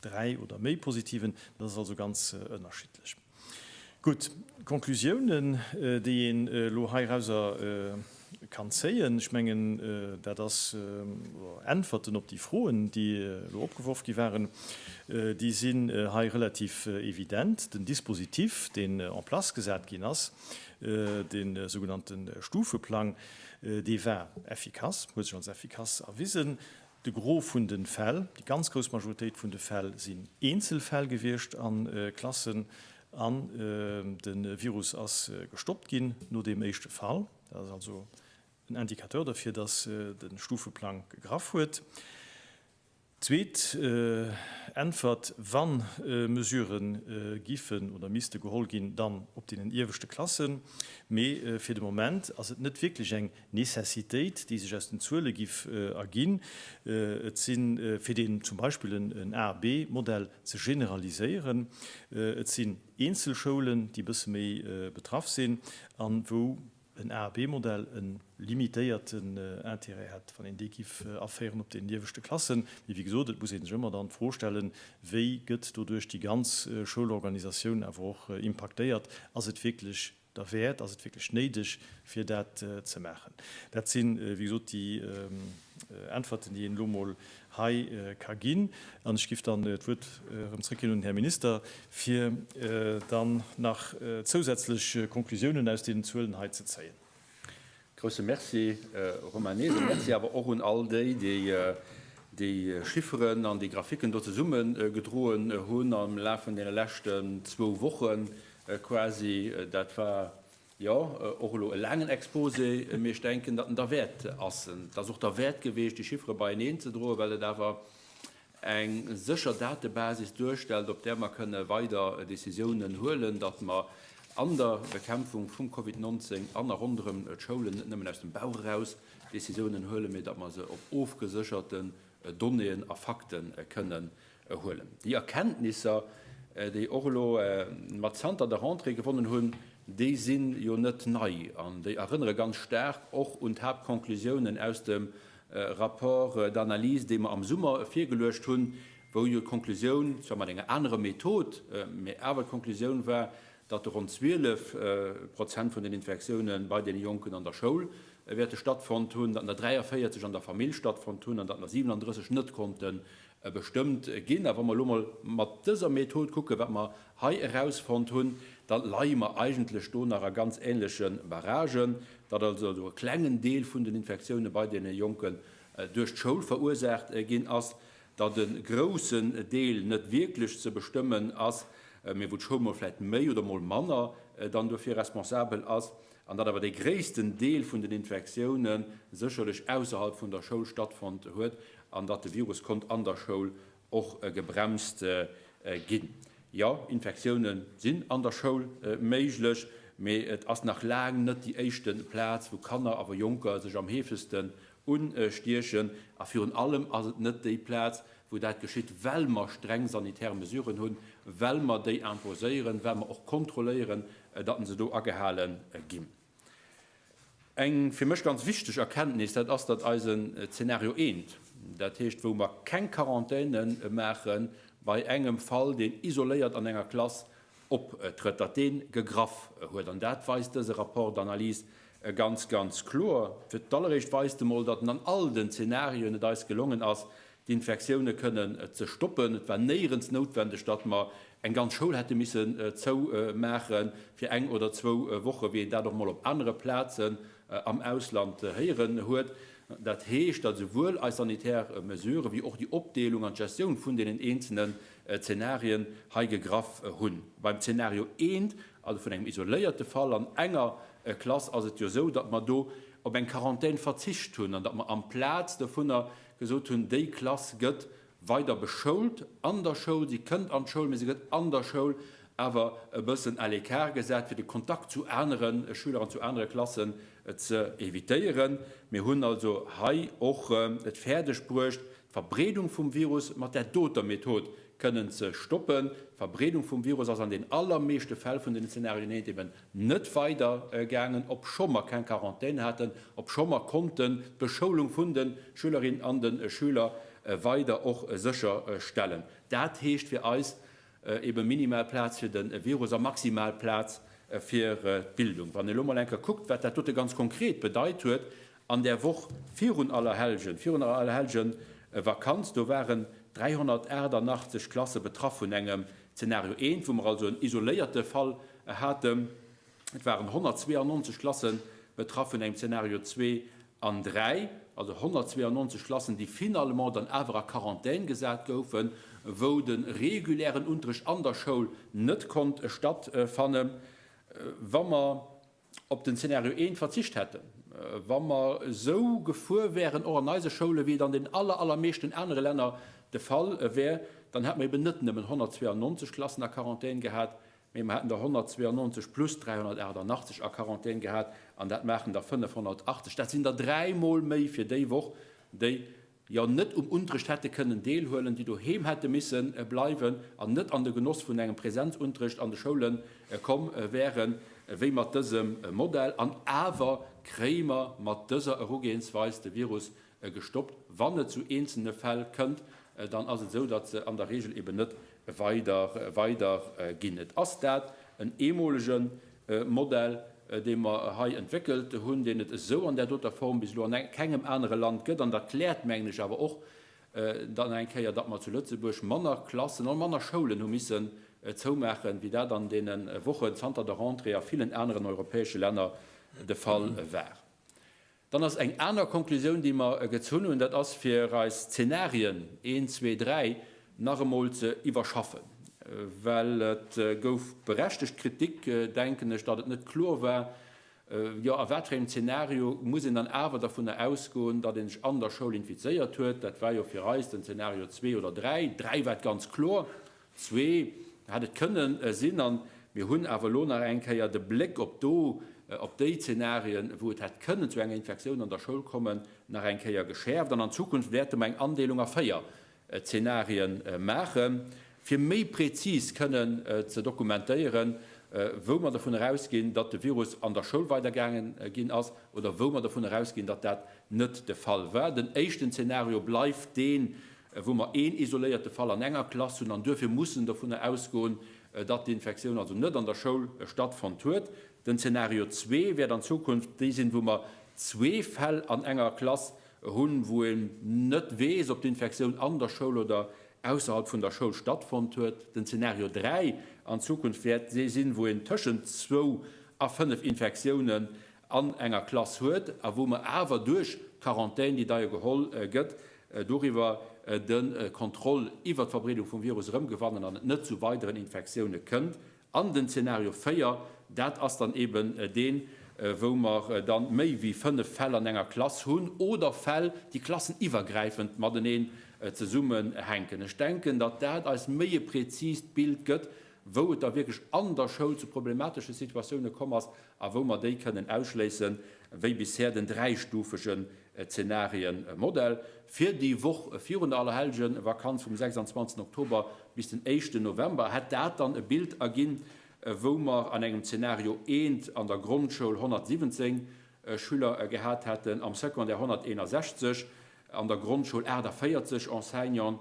Dräi oder méi positiven, dat ass also ganz ënnerschiddlech. Gutt, d'Conclusiounen, déi een elo heirauser kann zéien, ech mengen, dat ass, oder Äntwerten op déi Froen, déi elo opgeworf gi waren, déi sinn hei relativ evident. Den Dispositif, deen en place gesat ginn ass, de sougenannte Stufeplang, dee war effikass, huet sech als effikass erwisen. De Gros vun de Fäll, déi ganz grouss Majoritéit vun de Fäll sinn Eenzelfäll gewiescht a Klassen an de Virus ass gestoppt ginn no deem éischte Fall. Dat ass also en Indicateur derfir, dass de Stufeplang gegraff huet. Zweet Äntwert, Wann Mesurë giffen oder misste geholl ginn, dann op deenen ieweschte Klassen. Mee fir de Moment ass et net wierklech eng Nécessitéit, déi sech aus den Zuele giff erginn. Et sinn, fir deen zum Beispill en A, B Modell ze generaliséieren, et sinn eenzel Schoulen, déi e bësse méi betraff sinn an wou en A, B Modell e limitéierten Intérêt hätt, wann een dee giff aféieren op den ieweschte Klassen. Mee wéi gesot, et muss ee sech ëmmer dann d'Fro stellen, wéi gëtt doduerch déi ganz Schoulorganisatioun awer och impaktéiert? Ass et wierklech derwäert? Ass et wierklech néideg, fir dat ze maachen? Dat si wéi gesot déi Äntwerten, déi een elo emol hei ka ginn. An ech géif dann d'Wuert erëm zrëckginn un den Här Minister, fir dann nach zousätzlech Konklusiounen aus deenen Zuelen hei ze zéien. Grousse Merci, Romain Neeser. Merci awer och un all déi, déi déi Chifferen an déi Graphiken do zesummegedroen hunn am Laf vun deene leschten zwou Wochen quasi. Dat war jo och elo e laangen Exposé, mee ech denken, datt en derwäert ass. Et ass och derwäert gewiescht, déi Chiffere beieneenzedroen, well et awer eng sécher Datebasis duerstellt, op där mer kënne weider Decisiounen huelen, datt mer an der Bekämpfung vum Covid 19 an a ronderëm d'Schoulen net nëmmen aus dem Bauch eraus Decisiounen huelen, mee datt mer se op ofgesécherte Donnéeën a Fakte kënnen huelen. Déi Erkenntnisser, déi och elo mer zanter der Rentrée gewonnen hunn, déi si jo net nei an déi erënnere ganz staark och un d'Haaptconclusiounen aus dem Rapport d'analyse, dee mer am Summer virgeluecht hunn, wou jo d'Konklusioun, zwar mat enger anerer Method, mä awer d'Konklusioun war, datt ronn 12 Prozent vun den Infektiounen bei deene Jonken an der Schoul wäerte stattfonnt hunn, datt der 43 an der Famill stattfonnt hunn an datt der 37 net konnten Bestëmmt ginn. A wa mer elo emol mat dëser Method kucken, wat mer hei erausfonnt hunn, da leie mer eigentlech do nach a ganz ähnleche Barragen, datt also do e klengen Deel vun den Infektioune bei deene Jonken duerch d'Schoul verursaacht ginn ass, datt e groussen Deel net wierklech ze bestëmmen ass, mee wou d'Schoul mol vläicht méi oder mol manner dann dofir responsabel ass. an datt awer dee gréissten Deel vun den Infektioune sécherlech ausserhalb vun der Schoul stattfonnt huet an datt de Virus konnt an der Schoul och gebremst ginn. Jo, Infektioune sinn an der Schoul méiglech, mee et ass nach laang net déi éischte Plaz, wou Kanner, awer Jonker, sech am heefegsten Unstiechen. A virun allem ass et net déi Plaz, wou dat geschitt, well mer streng sanitär Mesuren hunn, well mer déi imposéieren, well mer och kontrolléieren, datt se do agehale ginn. Eng fir mech ganz wichteg Erkenntnis, dat ass, datt eisen Zeenario 1, dat heescht, wou mer keng Quarantaine maachen, bei engem Fall, deen isoléiert an enger Klass optrëtt, datt dee gegraff huet. An dat weist dëse Rapport d'Analys ganz, ganz kloer. Fir d'alleréischt weist e mol, datt an all den Zenarioen et eis gelongen ass, d'Infektioune kënnen ze stoppen. Et war néierens noutwendeg, datt mer eng ganz Schoul hätte missen zou maache fir eng oder zwou Woche, wéi een dat och mol op anere Plazen am Ausland héieren huet. Dat heescht, datt esouwuel eis sanitär Mesurë wéi och déi Opdeelung an d'Gestioun vun deenen eenzele Zenarien hei gegraff hunn. Beim Zenario eent, also vun engem isoléierte Fall an enger Klass, ass et jo esou, datt mer do op eng Quarantän verzicht hunn an datt mer amplaz dovunner gesot hunn, déi Klass gëtt weider beschoult an der Schoul, si kënnt an d'Schoul, mee se gëtt an der Schoul awer e bëssen à l'écart gesat, fir de Kontakt zu anere Schüler an zu anere Klassen ze evitéieren. Mir hunn also hei och et fäerdeg bruecht, D'Verbreedung vum Virus mat där doter Method kënnen ze stoppen. D'Verbreedung vum Virus ass an den allermeeschte Fäll vun den Zenarien eent eben net weider gaangen, obscho mer keng Quarantän haten, obscho mer konnten d'Beschoulung vun de Schülerinnen an de Schüler weider och sécher stellen. Dat heescht fir eis, Eben minimal Plaz fir den Virus a maximal Plaz fir d'Bildung. Wann een elo mol eng Kéier kuckt, wat dat dote ganz konkret bedeit huet an där Woch virun Allerhellgen, virun der Allerhellgen-Vakanz, do waren 388 Klasse betraff vun engem Zeenario 1, wou mer also en isoléierte Fall haten. Et waren 192 Klasse betraff vun engem Zeenario 2 an 3, also 192 Klassen, déi finalement dann awer a Quarantän gesat goufen, wou de regulären Unterrecht an der Schoul net konnt stattfannen. Wa mer op den Zeenario 1 verzicht hätten, wa mer esou gefuer wäeren, och an eise Schoule wéi et an den aller, allermeeschten anere Länner de Fall wär, dann hätt mer eben net nëmmen 192 Klassen a Quarantän gehat, Mee mer hätten der 192 plus 388 a Quarantän gehat an dat maachen der 580. Dat sinn der dräi Mol méi fir déi Woch, déi jo net um Unterrecht hätte kënnen deelhuelen, déi doheem hätte misse bleiwen an net an de Genoss vun engem Präsenzunterrecht an de Schoule komm wäere wéi mat dësem Modell. An awer kréie mer mat dëser Erugehensweis de Virus gestoppt. Wann et zu eenzelne Fäll kënnt, dann ass et esou, datt se an der Regel eben net weider weider ginn. Et ass dat en eemolege Modell, dee mer hei entwéckelt hunn, deen et esou an där doter Form bis elo an kengem anere Land gëtt. An dat kläert, mengen ech, awer och dann eng Kéier, datt mer zu Lëtzebuerg manner Klassen an manner Schoulen hu missen zoumaachen, wéi dat an deene Wochen zanter der Rentrée a villen aneren europäesche Länner de Fall war. Dann ass eng aner Konklusioun, déi mer gezunn hunn, dat ass fir eis Zeenarien een, zwee, dräi nach emol ze iwwerschaffen, well et gouf berechtegt Kritik, denken ech, datt et net kloer war, jo a wat fir engem Zeenario muss een dann awer dervunner ausgoen, datt ee sech an der Schoul infizéiert huet. Dat war jo fir eis den Zeenario zwee oder dräi, dräi war et ganz kloer. Zwee hätt et kënnen sinn, an mir hunn awer elo nach eng Kéier de Bléck op do, op déi Zenarien, wou et hätt kënnen zu enger Infektioun an der Schoul kommen, nach eng Kéier geschäerft. An an Zukunft wäerte mer eng Andeelung a véier Zenarie maache fir méi prezis kënnen ze dokumentéieren, wou mer dovun erausginn, datt de Virus an der Schoul weider gaange ginn ass oder wou mer dovun erausginn, datt dat net de Fall war. Den éischten Zenario bleift deen, wou mer een isoléierte Fall an enger Klass hunn an duerfir mussen dovunner ausgoen, datt d'Infektioun also net an der Schoul stattfonnt huet. Den Zeenario zwee wäert an Zukunft dee sinn, wou mer zwee Fäll an enger Klass hunn, wou een net weess, ob d'Infektioun an der Schoul oder ausserhalb vun der Schoul stattfonnt huet. Den Zeenario dräi an Zukunft wäert dee sinn, wou een tëschent zwou a fënnef Infektiounen an enger Klass huet a wou mer awer duerch d'Quarantän, déi da jo geholl gëtt, doriwwer de Kontroll iwwert d'Verbreedung vum Virus erëmgewannen an et net zu weideren Infektioune kënnt. An den Zeenario 4, dat ass dann eben deen, wou mer dann méi wéi fënnef Fäll an enger Klass hunn oder Fäll, déi klasseniwwergräifend mateneen zesummenhänken. Ech denken, datt dat eis méi e präzist Bild gëtt, wou et da wierklech an der Schoul zu problematesche Situatioune komm ass a wou mer déi kënnen ausschléissen, wéi bisher den dräistufege e Zenarien, e Modell fir déi Woch virun der Allerhellgenvakanz, vum 26 Oktober bis den éischten November, hätt dat dann e Bild erginn, wou mer an engem Zenario eent an der Grondschoul 117 Schüler gehat hätten, am Secondaire 161, an der Grondschoul 48 Enseignanten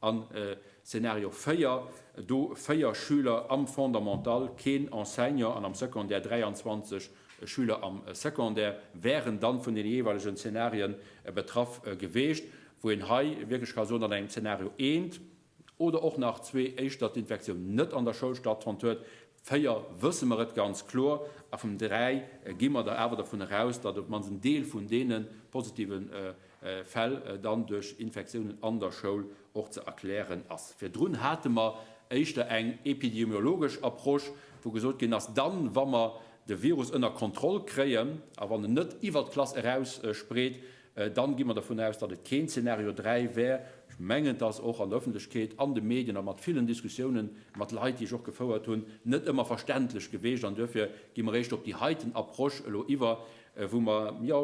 A Szenario 4, do 4 Schüler am Fondamental, keen Enseignant, an am Secondaire 23 Schüler am Secondaire wären dann vun den jeeweilegen Szenarien betraff geweecht, wou een hei wierklech ka soen, an engem Szenario 1 oder och nach 2 éischter d'Infektioun net an der Schoul stattfonnt huet, 4 wësse mer et ganz kloer, a vum 3 gi mer der awer dervun eraus, datt op d'mannst en Deel vun deene positive Fäll dann duerch Infektiounen an der Schoul och ze erklären ass. Virdrun hate mer éischter eng epidemiologesch Approche, wou gesot ginn ass, dann, wa mer de Virus ënner Kontroll kréien a wann en net iwwer d'Klass eraus spreet, Dann gi mer dervun aus, datt et keen Zeenario 3 wär. Ech mengen, datt och an der Ëffentlechkeet, an de Medien a mat villen Diskussiounen mat Leit, déi ech och gefouert hunn, net ëmmer verständlech gewiescht. An duerfir gi mer éischter op déi heiten Approche elo iwwer, wou mer, jo,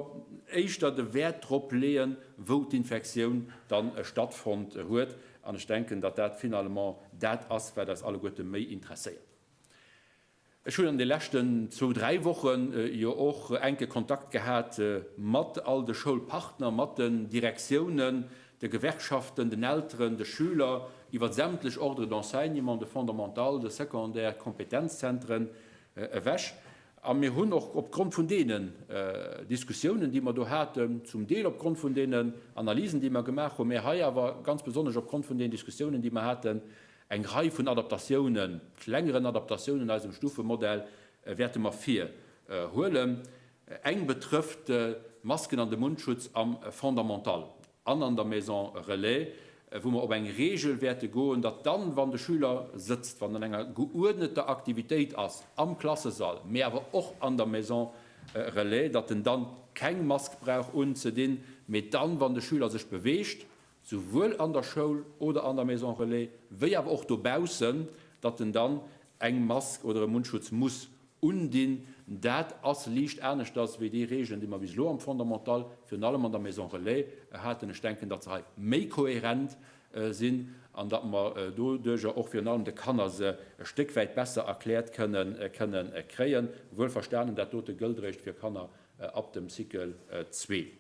éischter de Wäert drop leeën, wou d'Infektioun dann stattfonnt huet. An ech denken, datt dat finalement dat ass, wat eis alleguerte méi interesséiert. Ech hunn an de leschten zwou, dräi Wochen jo och enke Kontakt gehat mat all de Schoulpartner, mat den Direktiounen, de Gewerkschaften, den Elteren, de Schüler, iwwer sämtlech Ordres d'enseignement, de Fondamental, de Secondaire, Kompetenzzentren ewech. A mir hunn och opgrond vun deenen Diskussiounen, déi mer do haten, zum Deel opgrond vun deenen Analysen, déi mer gemaach hunn, mä hei awer ganz besonnesch opgrond vun den Diskussiounen, déi mer haten, Eng Rei vun Adaptatiounen, klengeren Adaptatiounen eisem Stufemodell wäerte mer vir huelen. Eng betrëfft d'Masken an de Mundschutz am Fondamental an an der Maison Relais, wou mer op eng Regel wäerte goen, datt dann, wann de Schüler sëtzt, wann en an enger geuerdneter Aktivitéit ass am Klassesall, mä awer och an der Maison Relais, datt en dann keng Mask brauch unzedinn, mä dann, wann de Schüler sech beweegt, souwuel an der Schoul oder an der Maison Relais wéi awer och dobaussen, datt en dann eng Mask oder e Mundschutz muss undinn. Dat ass liicht aneschters wéi déi Regeln, déi mer bis elo am Fondamental, virun allem an der Maison Relais, haten. Ech denken, datt se hei méi kohärent sinn an datt mer doduerjer och virun allem de Kanner se e Stéck wäit besser erkläert kënnen kréien, wuel verstanen, dat dote gëllt eréischt fir Kanner ab dem Cycle zwee.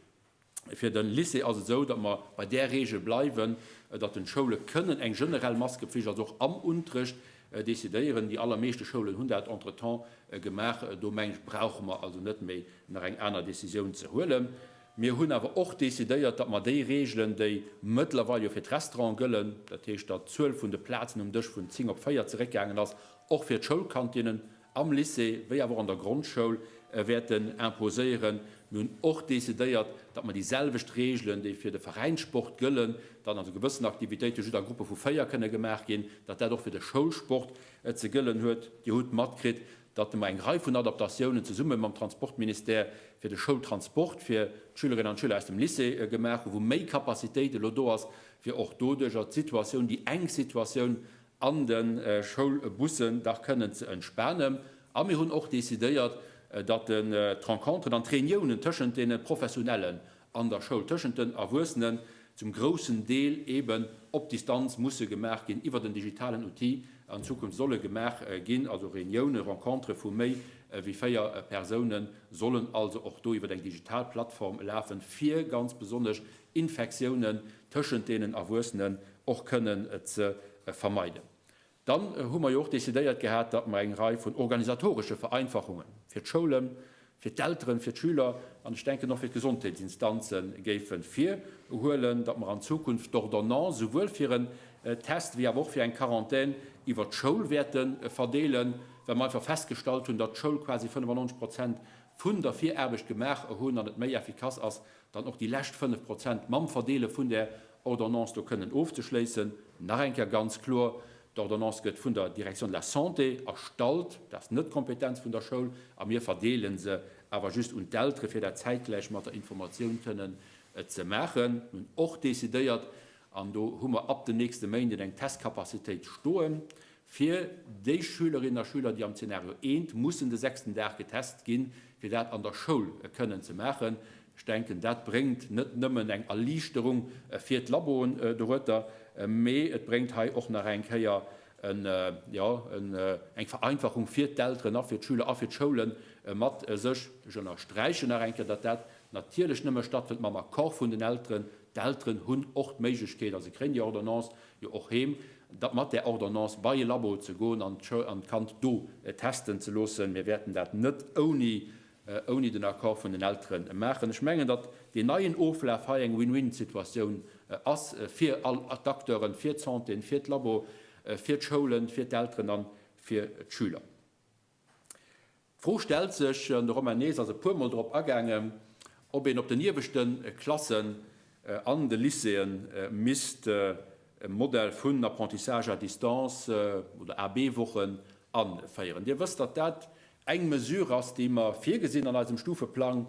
Fir de Lycée ass et esou, datt mer bei där Reegel bleiwen, datt den Schoule kënnen eng generell Maskepflicht, also och am Unterrecht, decidéieren. Déi allermeeschte Schoulen hunn dat entretemps gemaach. Do mengen ech, brauche mer also net méi nach eng aner Décisioun ze huelen. Mir hunn awer och decidéiert, datt mer déi Reegelen, déi mëttlerweil jo fir d'Restauranten gëllen, dat heescht, datt d'Zuel vun de Plazen um Dësch vun 10 op 4 zeréckgaangen ass, och fir d'Schoulkantinnen, am Lycée wéi awer och an der Grondschoul wäerten imposéieren. Mir hunn och decidéiert, datt mer déi selwecht Reegelen, déi fir de Veräinssport gëllen, datt also gewëssen Aktivitéite just a Gruppe vu 4 kënne gemaach ginn, datt dat och fir de Schoulsport ze gëllen huet. Dir hutt matkritt, datt mer eng Rei vun Adaptatiounen zesumme mam Transportministère fir de Schoultransport fir d'Schülerinnen an d'Schüler aus dem Lycée gemaach hunn, wou méi Capacitéit elo do ass, fir och doduercher d'Situatioun, déi enk Situatioun an de Schoulbussen dach kënnen ze entspanen a mir hunn och decidéiert, datt d'Rencontren an d'Reuniounen tëschent deene Professionellen an der Schoul, tëschent den Erwuessenen, zum groussen Deel eeben op Distanz musse gemaach ginn, iwwert en digitalen Outil an Zukunft solle gemaach ginn. Also Reuniounen, Rencontrë vu méi wéi 4 Persounen sollen also och do iwwert eng digital Plattform lafen, fir ganz besonnesch Infektiounen tëschent deenen Erwuessenen och kënnen ze vermeiden. Dann hu mer jo och decidéiert gehat, datt mer eng Rei vun organisatoresche Vereinfachunge fir d'Schoulen, fir d'Elteren, fir d'Schüler an ech denken och fir d'Gesondheetsinstanze géife virhuelen, datt mer an Zukunft d'Ordonnance souwuel fir en Test wéi awer och fir eng Quarantän iwwert d'Schoul wäerte verdeelen, well mer einfach festgestallt hunn, datt d'Schoul quasi 95 Prozent vun der Viraarbecht gemaach hunn an et méi effikass ass, dann och déi lescht 5 Prozent mam Verdeele vun där Ordonnance do kënnen ofzeschléissen. Nach eng Kéier ganz kloer, D'Ordonnance gëtt vun der Direction de la Santé erstallt, dat ass net d'Kompetenz vun der Schoul, a mir verdeele se awer just un d'Eltere fir dat zäitgläich mat der Informatioun kënnen ze maachen. Mir hunn och decidéiert, an do hu mer ab den nächste Méinden eng Testcapacitéit stoen, Fir déi Schülerinnen a Schüler, déi am Zeenario I mussen de sechsten Dag getest ginn, fir dat an der Schoul kënnen ze maachen, ech denken, dat bréngt net nëmmen eng Erliichterung fir d'Laboen dorueter, mee et bréngt hei och nach eng Kéier eng Vereinfachung fir d'Elteren a fir d'Schüler a fir d'Schoule mat sech. Ech ënnersträichen nach eng Kéier, datt dat natierlech nëmme stattfënnt mam Accord vun den Elteren. D'Elteren hunn och d'Méiglechkeet, a se kréien déi Ordonnance, jo och heem, da mat där Ordonnance bei e Labo ze goen an d'Kand do testen ze loossen. Mir wäerten dat net ouni, ouni den Accord vun den Eltere maachen. Ech mengen, datt deen neien Oflaf hei eng Win-win-Situatioun ass fir all d'Acteuren, fir d'Santé, fir d'Labo, fir d'Schoulen, fir d'Elteren a fir d'Schüler. D'Fro stellt sech, an de Romain Nys ass e puermol drop agaangen, ob een op den ieweschte Klassen an de Lycéeë misst e Modell vun Apprentissage à distance oder AB-Wochen aféieren. Dir wësst, datt dat eng Mesure ass, déi mer virgesinn an eisem Stufeplang,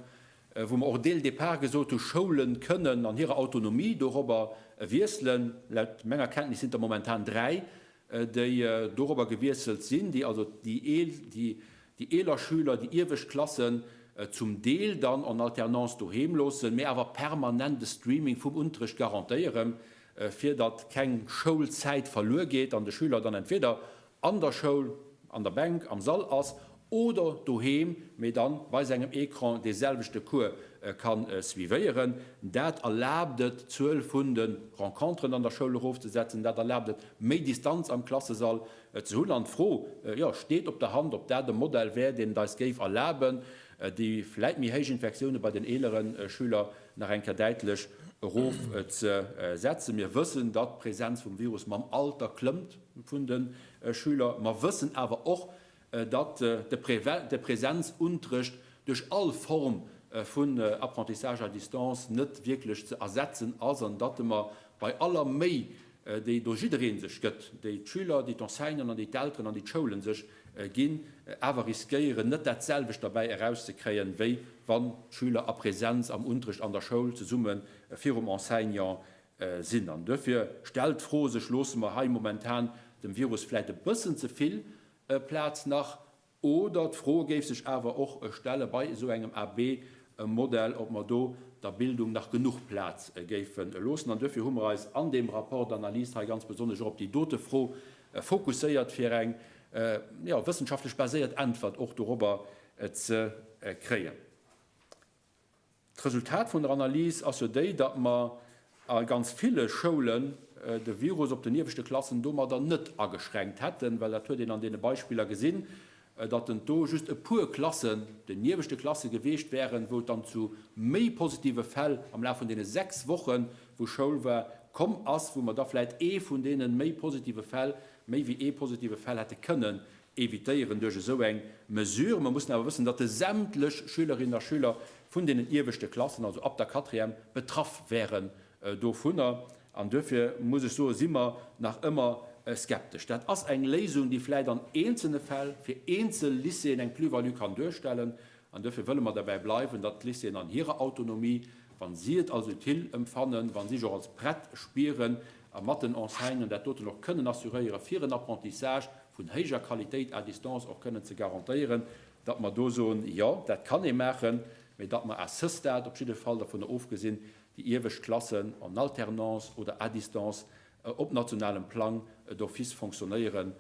wou mer och dès le départ gesot hu Schoule kënnen an hirer Autonomie dorobber wiesselen. Laut menger Kenntnis sinn et der momentan dräi déi dorobber gewiesselt sinn, déi also déi eeler Schüler, déi iewescht Klassen zum Deel dann en alternance doheem loossen, mä awer permanent de Streaming vum Unterrecht garantéieren, fir datt keng Schoulzäit verluer geet an de Schüler dann entweder an der Schoul, an der Bänk, am Sall ass oder doheem, mee dann bei sengem Ecran dee selwechte Cours kann suivéieren. Dat erlaabt et, d'Zuel vun de Renconteren an der Schoul erofzesetzen, dat erlaabt et, méi Distanz am Klassesall ze hunn. An d'Fro, jo, steet op der Hand, ob dat e Modell wär, deen et eis géif erlaben, déi vläit méi héich Infektioune bei den eelere Schüler nach eng Kéier däitlech erof ze setzen. Mir wëssen, datt d'Präsenz vum Virus mam Alter klëmmt vun de Schüler. Mer wëssen awer och, datt de Präsenzuntrëcht duerch all Form vun Apprentissage à distance net wierklech ze ersetzen ass an datt mer bei aller Méi, déi do jidderee sech gëtt, déi d'Schüler, déi d'Enseignanten an déi d'Elteren an déi d'Schoulen sech ginn, awer riskéieren, net dat selwecht derbäi erauszekréien, wéi wann d'Schüler a Präsenz am Unterrecht an der Schoul zesumme virum Enseignant sinn. An duerfir stellt d'Fro sech, Loosse mer hei momentan dem Virus vläicht e bëssen ze vill e Plaz nach, oder d'Fro géif sech awer och stelle bei esou engem AB-Modell, ob mer do der Bildung nach genuch Plaz géife loossen. An duerfir hu mer eis an deem Rapport d'analyse hei ganz besonnesch och op déi dote Fro fokusséiert, fir eng wëssenschaftlech baséiert Äntwert och dorobber ze kréien. D'Resultat vun der Analys ass jo déi, datt mer a ganz ville Schoulen de Virus op den ieweschte Klassen domadder net ageschränkt hätten, well dat huet een an deene Beispiller gesinn, datt en do just e puer Klassen, den ieweschte Klasse geweecht wären, wou et dann zu méi positive Fäll am Laf vun deene sechs Woche wou Schoul war, komm ass, wou mer da vläicht ee vun deene méi positive Fäll, méi wéi ee positive Fäll hätte kënnen evitéieren duerch esou eng Mesure. Mer mussen awer wëssen, datt de sämtlech Schülerinnen a Schüler vun deenen ieweschte Klassen, also ab der Quatrième, betraff wären dovunner. An duerfir muss ech soen, si mer nach ëmmer skeptesch. Dat ass eng Léisung, déi vläicht an eenzelne Fäll fir eenzel Lycéeën eng Plus-value kann duerstellen. An duerfir wëlle mer derbäi bleiwen, datt d'Lycéeën an hirer Autonomie, wa si et als utile empfannen, wa si sech och als prett spieren a mat den Enseignanten dat doten och kënnen assuréieren, fir en Apprentissage vun héijer Qualitéit à distance och kënnen ze garantéieren, datt mer do soen, Jo, dat kann ee maachen, mä datt mer à ce stade op jidde Fall dovunner ofgesinn, déi iewescht Klassen en alternance oder à distance op nationalem Plang d'office fonctionnéieren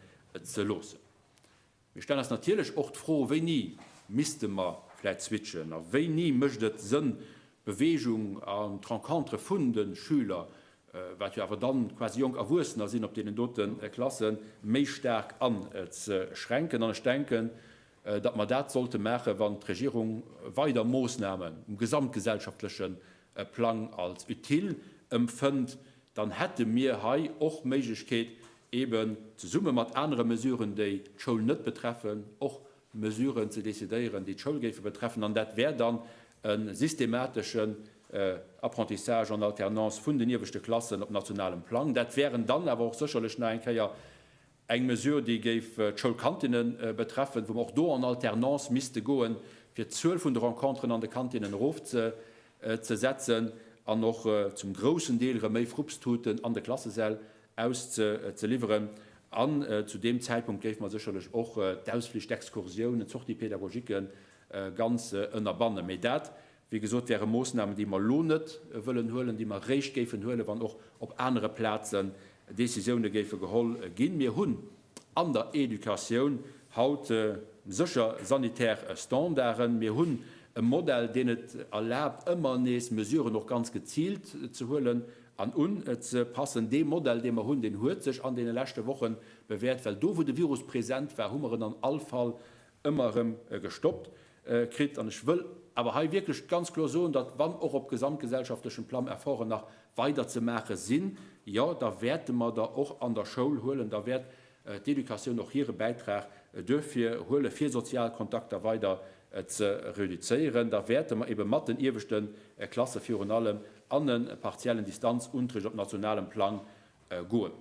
ze loossen. Mir stellen eis natierlech och d'Fro, Wéini misste mer vläicht switchen a wéini mécht et Sënn, Bewegung an d'Rencontre vun de Schüler, wat jo awer dann quasi jonk Erwuessener sinn, op deenen doten Klassen, méi staark anzeschränken. An ech denken, datt mer dat sollte maachen, wann d'Regierung weider Moosnamen um gesamtgesellschaftleche Plang als utile empfënnt, dann hätte mir hei och d'Méiglechkeet, eben zesumme mat anere Mesuren, déi d'Schoul net betreffen, och Mesuren ze decidéieren, déi d'Schoul géife betreffen. An dat wär dann e systemateschen Apprentissage en alternance vun den ieweschte Klassen op nationalem Plang. Dat wären dann awer och sécherlech nach eng Kéier eng Mesure, déi géif d'Schoulkantinne betreffen, wou mer och do en alternance misste goen, fir d'Zuel vun de Renconteren an de Kantinnen erofzesetzen an och zum groussen Deel erëm méi Frupsthuten an de Klassesäll auszeliwweren. An zu deem Zäitpunkt géife mer sécherlech och d'Ausflich, d'Exkursiounen, d'Sorties pédagogiques ganz ënnerbannen. Mee dat, wéi gesot, wäre Moossnamen, déi mer elo net wëllen huelen, déi mer eréischt géifen huelen, wann och op anere Plazen Décisioune géife geholl ginn. Mir hunn an der Educatioun haut sécher sanitär Standarden. Mir hunn e Modell, deen et erlaabt, ëmmer nees Mesuren och ganz geziilt ze huelen an unzepassen. Dee Modell, dee mer hunn, deen huet sech an deene leschte Woche bewäert, well do, wou de Virus present war, hu mer en an all Fall ëmmer erëm gestoppt kritt. An ech wëll awer hei wierklech ganz kloer soen, datt, wann och op gesamtgesellschaftlechem Plang Efforten nach weider ze maache sinn, jo, da wäerte mer der och an der Schoul huelen, da wäert d'Educatioun och hire Bäitrag duerfir huelen, fir sozial Kontakter weider ze reduzéieren, da wäerte mer ebe mat den ieweschte Klasse virun allem an e partiellen Distanzunterricht op nationalem Plang goen.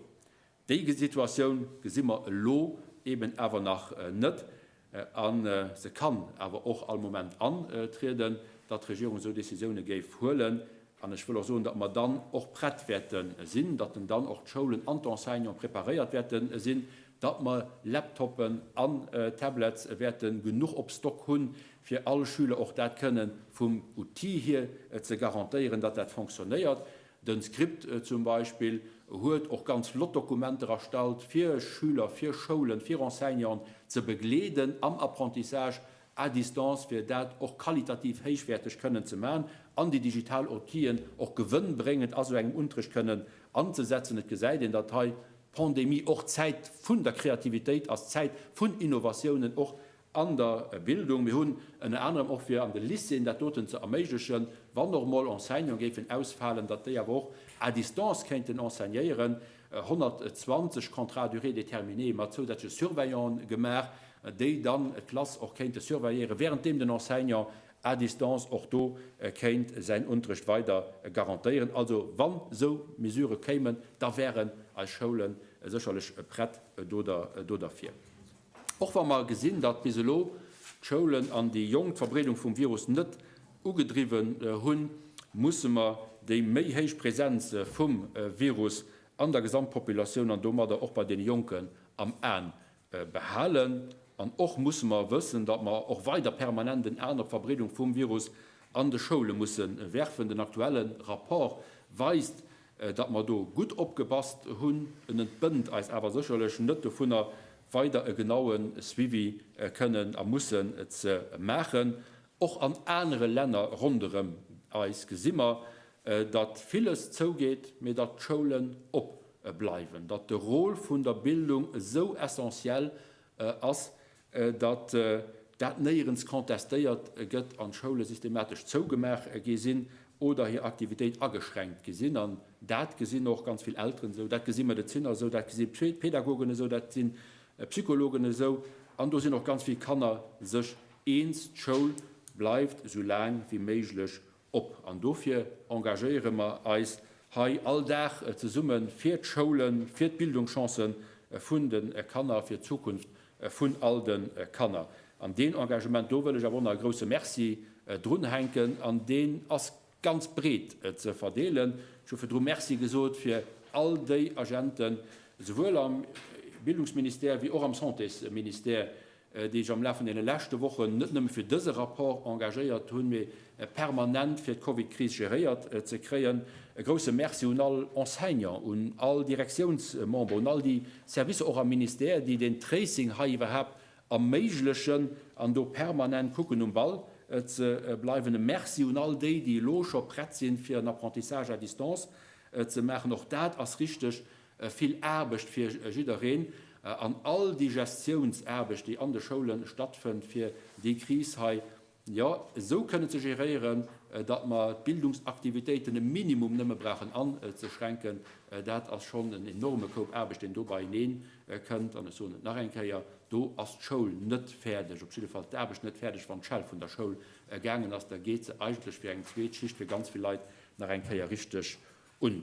Déi Situatioun gesi mer elo eben awer nach net a se kann awer och all Moment antrieden, datt d'Regierung esou Décisiounen géif huelen. An ech wëll och soen, datt mer dann och prett wäerte sinn, datt dann och d'Schoulen an d'Enseignanten preparéiert wäerte sinn, datt mer Laptopen an Tablets wäerte genuch op Stock hunn, fir all Schüler och dat kënnen vum Outil hier ze garantéieren, datt dat fonctionnéiert. Den Script zum Beispill huet och ganz flott Dokumenter erstallt fir Schüler, fir Schoulen, fir Enseignanten ze begleeden am Apprentissage à distance fir dat och qualitativ héichwäerteg kënnen ze man an déi digital Outien och gewënnbréngend a sou engem Unterricht kënnen anzesetzen. Et gesäit een dat hei d'Pandemie och d'Zäit vun der Kreativitéit ass, d'Zäit vun Innovatiounen och An der Bildung, mir hunn ënner anerem och fir an de Lycéeën dat doten ze erméiglechen, wann och mol Enseignanten géifen ausfalen, datt déi awer och à distance kéinten enseignéieren, 120 Contrats à durée déterminée mat zousätzleche Surveillanten gemaach, déi dann d'Klass och kéinte surveilléieren, währenddeem den Enseignant à distance och do kéint säin Unterrecht weider garantéieren. Also wann esou Mesurë kéimen, da wären eis Schoulen sécherlech prett do derfir. Och wa mer gesinn, datt bis elo d'Schoulen an déi Jonk d'Verbreedung vum Virus net ugedriwwen hunn, musse mer déi méi héich Präsenz vum Virus an der Gesamtpopulatioun an domadder och bei deene Jonken am A behalen. An och musse mer wëssen, datt mer och weider permanent en An op d'Verbreedung vum Virus an de Schoule musse werfen. Den aktuelle Rapport weist, datt mer do gutt opgepasst hunn, en entbënnt eis awer sécherlech net dovunner, weider e genaue Suivi kënnen a mussen ze maachen. Och an anere Länner ronderëm eis gesi mer, datt villes zougeet, mee datt d'Schoulen op bleiwen, datt de Rôle vun der Bildung esou essentiel ass, datt dat néierens contestéiert gëtt an d'Schoule systematesch zougemaach gi sinn oder hir Aktivitéit ageschränkt gi sinn. An dat gesinn och ganz vill Elteren esou, dat gesi Medeziner esou, dat gesi Pädagogen esou, dat gesi Psychologen esou an do sinn och ganz vill Kanner sech eens, D'Schoul bleift esou laang wéi méiglech Op. An dofir engagéiere mer eis hei all Dag zesumme fir d'Schoulen, fir d'Bildungschancë vun de Kanner, fir d'Zukunft vun all de Kanner. An deen Engagement do wëll ech awer och nach e grouse Merci drunhänken. An deen ass ganz breet ze verdeelen. Ech hu virdru Merci gesot fir all déi Agenten, souwuel am Bildungsministère wéi och am Santésministère, déi ech am Laf vun deene leschte Wochen net nëmme fir dëse Rapport engagéiert hunn, mee permanent fir d'Covidkris geréiert ze kréien. E grousse Merci un all Enseignant, un all Direktiounsmember, un all déi Servicer och am Ministère, déi den Tracing hei iwwerhaapt erméiglechen an do permanent kucken um Ball ze bleiwen. E Merci un all déi, déi elo scho prett sinn, fir en Apprentissage à distance ze maachen. Och dat ass richtig. Vill Aarbecht fir jiddereen an all déi Gestiounsaarbecht, déi an de Schoule stattfënnt, fir déi Kris hei, jo, esou kënne ze geréieren, datt mer d'Bildungsaktivitéiten e Minimum nëmme brauchen anzeschränken, dat ass schonn en enorme Koup Aarbecht, deen do beieneen kënnt. An ech soen et nach eng Kéier, Do ass d'Schoul net fäerdeg, op jidde Fall d'Aarbecht net fäerdeg, wann d'Schell vun der Schoul gaangen ass. Da geet se eigentlech fir eng zweet Schicht, fir ganz vill Leit nach eng Kéier richteg un.